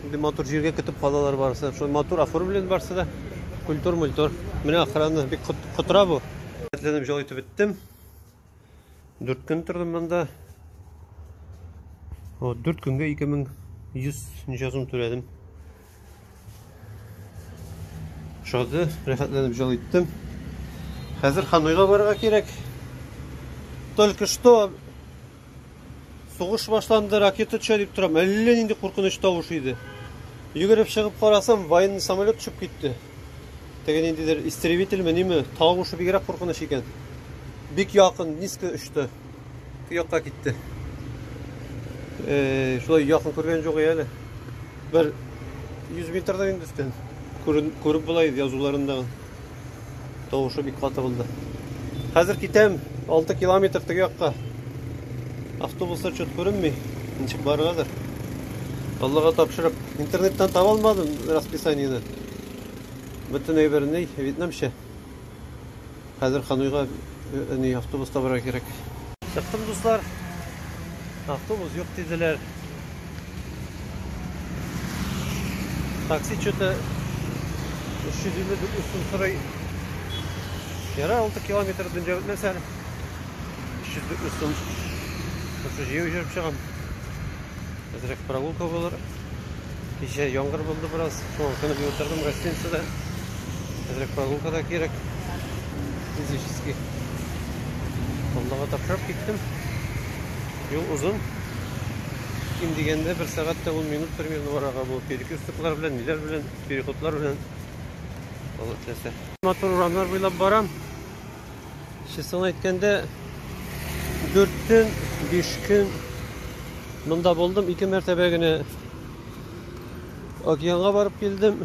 Speaker 1: Шундый матур җиргә көтеп калалар барысы. Шундый матур оформлен барысы да. Культур, мультур. Менә охрана бик котыра бу. Әтләнеп җал итеп беттем. Дүрт көн тордым монда. Вот, дүрт көнгә 2100 ничә сум түләдем. Шады, рәхәтләнеп җал иттем. Хәзер Хануйга барырга кирәк. Только что Сугыш башланды, ракета төшә дип торам. Әллә нинди куркыныч тавыш иде. Йөгереп чыгып карасам, военный самолет төшеп китте. Теге ниндидер истребительме, ниме, тавышы бигрәк куркыныч икән. Бик якын, низко очты. Якка китте. Э, шулай якын күргән юк әле. Бер 100 метрдан инде өстән. Күреп була иде язуларында. Тавышы бик каты булды. Хәзер китәм, 6 километр теге якка. Автобуслар чөт күренми. Ничек баргадыр. Аллага тапшырып, интернеттан таба алмадым расписаниене. Бөтен әйберне вьетнамча. Хәзер Хануйга э, ни автобус табарга кирәк. Чыктым, дуслар. Автобус юк диделәр. Такси что-то 359 сум сорый. Яра 6 километр дөнья бетмәсә әле. 359 сум. Шушы җыю җөреп чыгам. Әзрәк прогулка булыр. Кичә яңгыр булды бераз. Шуңа күнеп утырдым гостиницада. Әзрәк прогулка да кирәк. Физически. Аллага тапшырып киттем. Юл озын. Ким дигәндә бер сәгать тә ун минут примерно арага бу. Перекрестоклар белән, ниләр белән, переходлар белән. Алла теләсә. Матур урамнар буйлап барам. Честно әйткәндә, 4 көн, 5 көн монда булдым. Ике мәртәбә генә океанга барып килдем.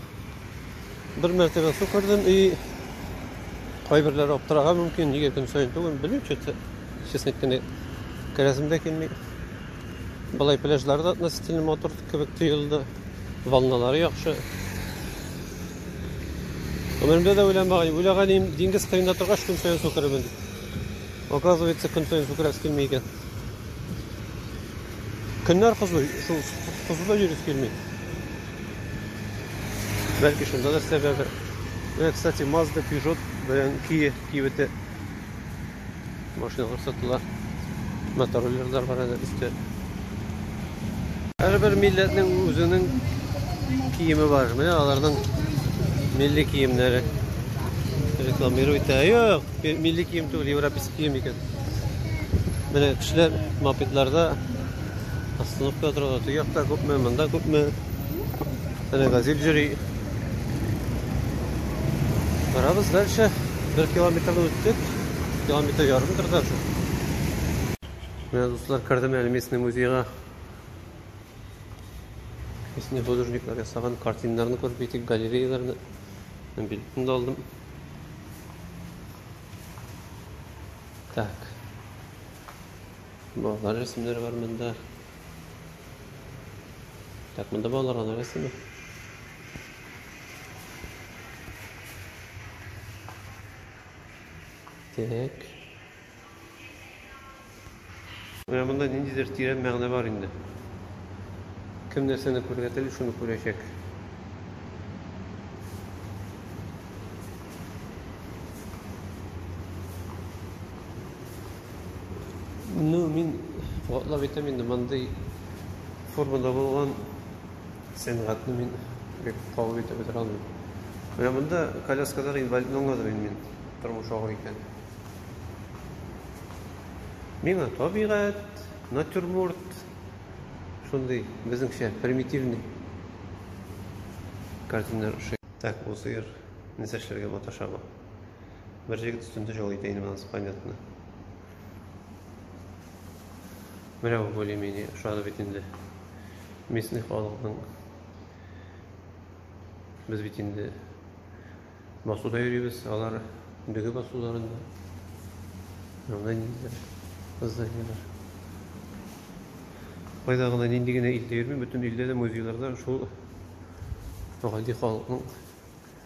Speaker 1: Бер мәртәбә су күрдем и кайберләре аптырарга мөмкин, нигә көн саен түгел, белмим, что Честно әйткәндә, керәсем дә килми. Былай пляжлары да относительно матур кебек тоелды. Волналары яхшы. Гомеремдә дә уйламаган, уйлаган идем, диңгез кыенда торгач, көн саен су керемен дип. Оказывается, көн саен су керәсе килми икән. Көннәр кызу, шул кызуда йөрис килми. Бәлки шунда да сәбәбе. Менә, кстати, Mazda, Peugeot белән Kia кибете Машина күрсәтелә. Мотороллерлар бар әле өстә. Һәрбер милләтнең үзенең киеме бар. Менә аларның милли киемнәре. Рекламирует. Ә юк, милли кием түгел, европейский кием икән. Менә кешеләр мопедларда остановка торалар. Төяк та күпме, монда күпме. Әле газель йөри. Барабыз дальше. Бер километрны үттек. Километр ярымдыр даже. Менә дуслар кердем әле местный музейга. Местный художниклар ясаган картиналарны күреп китик, галереяларны. Мен билетны да алдым. Так. Балалар рәсемнәре бар монда. Так, монда балалар гына рәсеме. Так. Менә монда ниндидер тирән мәгънә бар инде. Кем нәрсәне күрергә тели, шуны күрәчәк. Ну, мин куатлап әйтәм инде, мондый формада булган сәнгатьне мин бик кабул итеп бетерә алмыйм. Менә монда коляскадан инвалидны аңладым инде мин, тормыш авыр икән. Миңа табигать, натюрморт, шундый безнеңчә примитивный картиналар ошый. Так, бу сыер нәрсә эшләргә маташа бу? Бер җегет өстендә җол итә инде монысы понятно. Менә бу более-менее ошады бит инде. Местный халыкның без бит инде басуда йөрибез, алар дөге басуларында. Монда ниндидер зданиелар. Кайда гына нинди генә илдә йөрми, бөтен илдә дә музейларда шул гади халыкның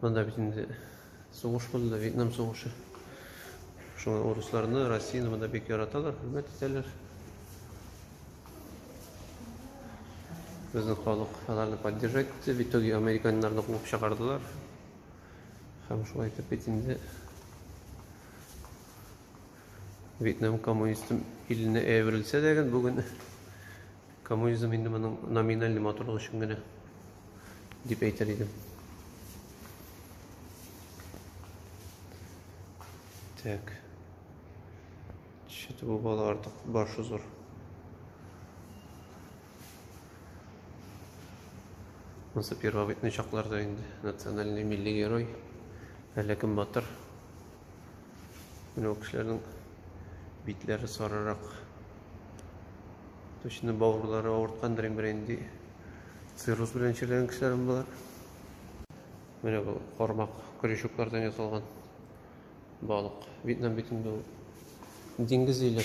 Speaker 1: Монда бит инде сугыш булды, Вьетнам сугышы. Шуңа урысларны, Россияне монда бик яраталар, хөрмәт итәләр. Безнең халык аларны поддержать итте, в итоге американнарны куып чыгардылар. Һәм шулай итеп бит инде Вьетнам коммунистым иленә әверелсә дә, бүген Коммунизм инде моның номинальный матурлык өчен генә дип әйтер идем. Так. Чит бу бала артык башы зур. Монсы первобытный чакларда инде национальный милли герой. Әле кем батыр. Менә ул кешеләрнең битләре сарырак. Точно бауырлары авырткандыр инде инде. Цирроз белән чирләгән кешеләр болар. Менә бу кармак крючоклардан ясалган балык. Вьетнам бит инде ул диңгез иле.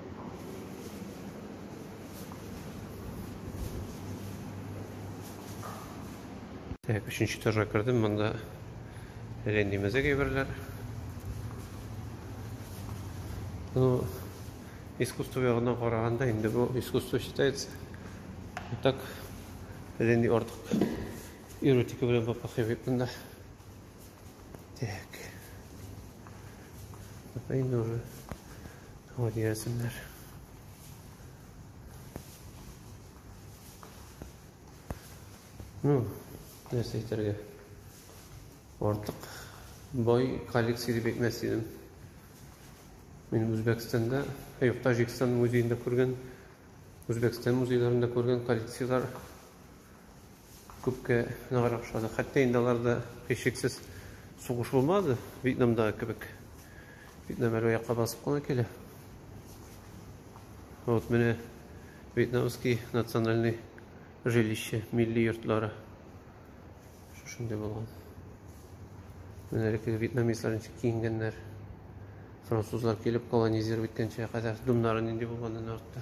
Speaker 1: Так, өченче этажга кердем, монда ренди мәзәк әйберләр. Ну, искусство ягына караганда инде бу искусство считается. Так, ренди артык эротика белән бапахи бит монда. Так. Это и нужно. Вот дигәнсеннәр. Ну, нәрсә әйтергә? Артык бай коллекция дип әйтмәс идем. Мин Үзбәкстанда, ә юк, Таҗикстан музеенда күргән, Үзбәкстан музейларында күргән коллекцияләр Күпкә ныграк ошады. Хәтта инде аларда һичшиксез сугыш булмады, Вьетнамдагы кебек. Вьетнам әле якка басып кына килә. Вот менә Вьетнамский национальный жилище, милли йортлары. Шушындый булган. Менә әлеге вьетнамецлар ничек киенгәннәр. Французлар килеп колонизировать иткәнчә кадәр думнары нинди булганын артта.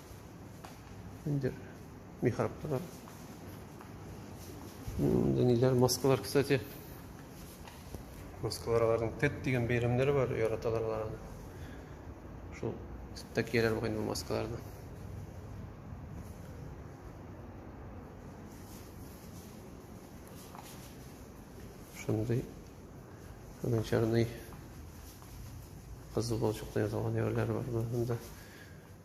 Speaker 1: Ниндер михрабтар. Монда ниләр маскалар, кстати. Маскалар аларның тет дигән бәйрәмнәре бар, яраталар аларны. Шул тетта кияләр бугай бу маскаларны. Шундый гончарный кызыл балчыктан ясалган ярлар бар монда.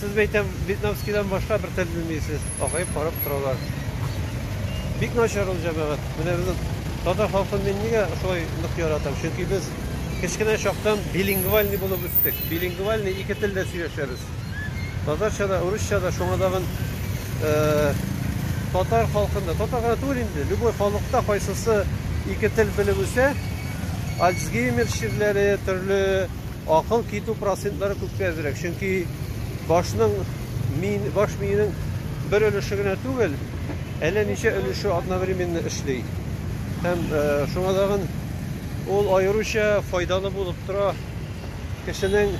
Speaker 1: Сез, мәйтәм, вьетнамскийдан башка бер тел белмисез. Акаеп карап торалар. Бик начар ул җәмәгать. Менә безнең татар халкын мин нигә шулай нык яратам? Чөнки без кечкенә чактан билингвальный булып үстек. Билингвальный ике телдә сөйләшәбез. Татарча да, урысча да, шуңа тагын татар халкында, татар гына түгел инде, любой халыкта кайсысы ике тел белеп үсә, Альцгеймер чирләре, төрле Акыл китү процентлары күпкә әзрәк, чөнки башның миен, баш миенең бер өлеше генә түгел, әллә ничә өлеше одновременно эшли. Һәм э, шуңа тагын ул аеруча файдалы булып тора кешенең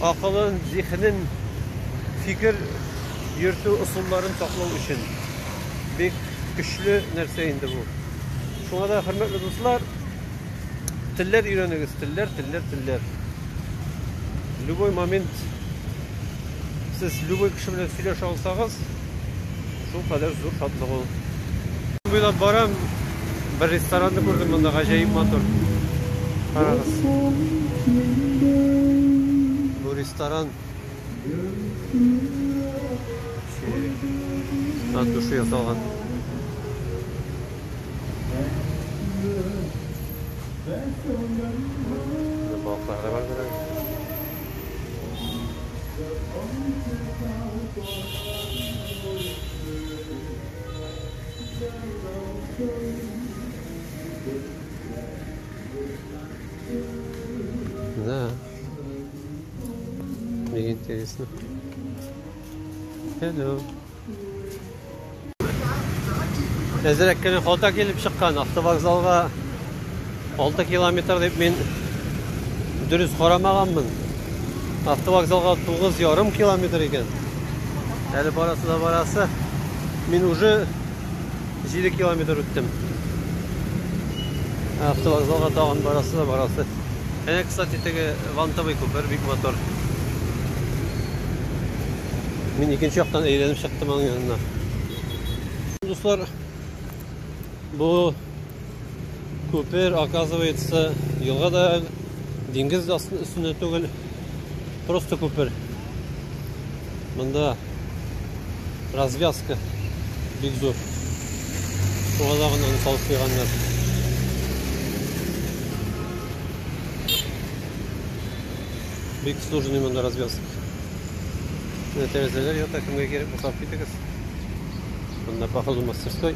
Speaker 1: акылын, зиһенен, фикер йөртү ысулларын саклау өчен. Бик көчле нәрсә инде бу. Шуңа да, хөрмәтле дуслар, Телләр өйрәнегез, телләр, телләр, телләр. Любой момент сез любой кеше белән сөйләшә алсагыз, шул кадәр зур шатлык ул. Буйлап барам, бер ресторанны күрдем монда, гаҗәеп матур. Карагыз. Бу ресторан от души ясалган. Балыклар да бар бирә. Да. Мне интересно. Hello. Әзерәк кенә хата килеп чыккан автовокзалга 6 километр дип мин дөрес карамаганмын. Автовокзалга 9,5 километр икән. Әле барасы да барасы. Мин уже 7 километр үттем. Автовокзалга тагын барасы да барасы. Әнә, кстати, теге вантовый күпер бик мотор. Мин икенче яктан әйләнеп чыктым аның янына. Дуслар, бу Күпер, оказывается, елга да, диңгез дә өстендә түгел. Просто күпер. Монда развязка бик зур. Шуңа да гына салып куйганнар. Бик сложный монда развязка. Менә тәрәзәләр ята, кемгә кирәк булса алып китегез. Монда походу мастерской.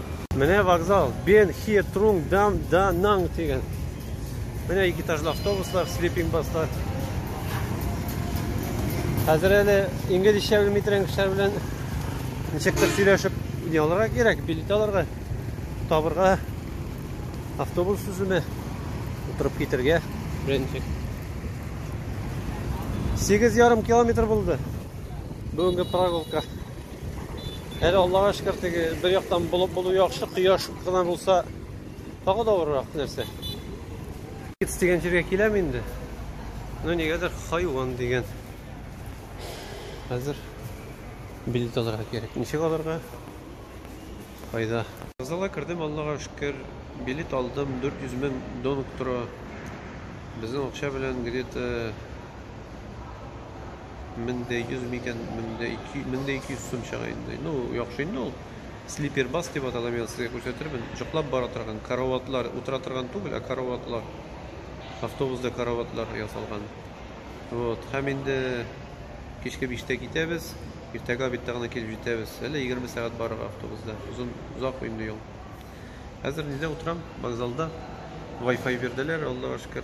Speaker 1: Менә вокзал. Бен хе трунг дам да нанг дигән. Менә ике этажлы автобуслар, слиппинг бастар. Хәзер әле инглизчә белми торган кешеләр белән ничектер сөйләшеп не алырга кирәк, билет алырга, табырга, автобус сүземе, утырып китергә, беренче. Сигез ярым километр булды. Бүгенге прогулка. Әле Аллага шөкер, теге бер яктан булып булу яхшы, кояш кына булса, тагы да авыррак нәрсә. Китс дигән җиргә киләм инде. Ну нигәдер хайван дигән. Хәзер билет алырга кирәк. Ничек алырга? Кайда? Вокзалга кердем, Аллага шөкер, билет алдым, 400 мең донг тора. Безнең акча белән где-то мең дә йөз микән, мең дә ике, мең дә ике йөз сум чыга инде. Ну, яхшы инде ул. Слипер бас дип атала, мин сезгә күрсәтермен. Җыклап бара торган караватлар, утыра торган түгел, ә караватлар. Автобусда караватлар ясалган. Вот, һәм инде кичке биштә китәбез. Иртәгә обедта гына килеп җитәбез. Әле 20 сәгать барырга автобусда. Озын, озак инде юл. Хәзер нидә утырам? Вокзалда. Wi-Fi бирделәр, Аллага шөкер.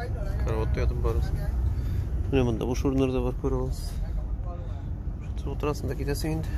Speaker 1: Караватта ятып барасың. Менә монда буш урыннар да бар, күрә аласыз. Шундый утырасың да китәсең инде.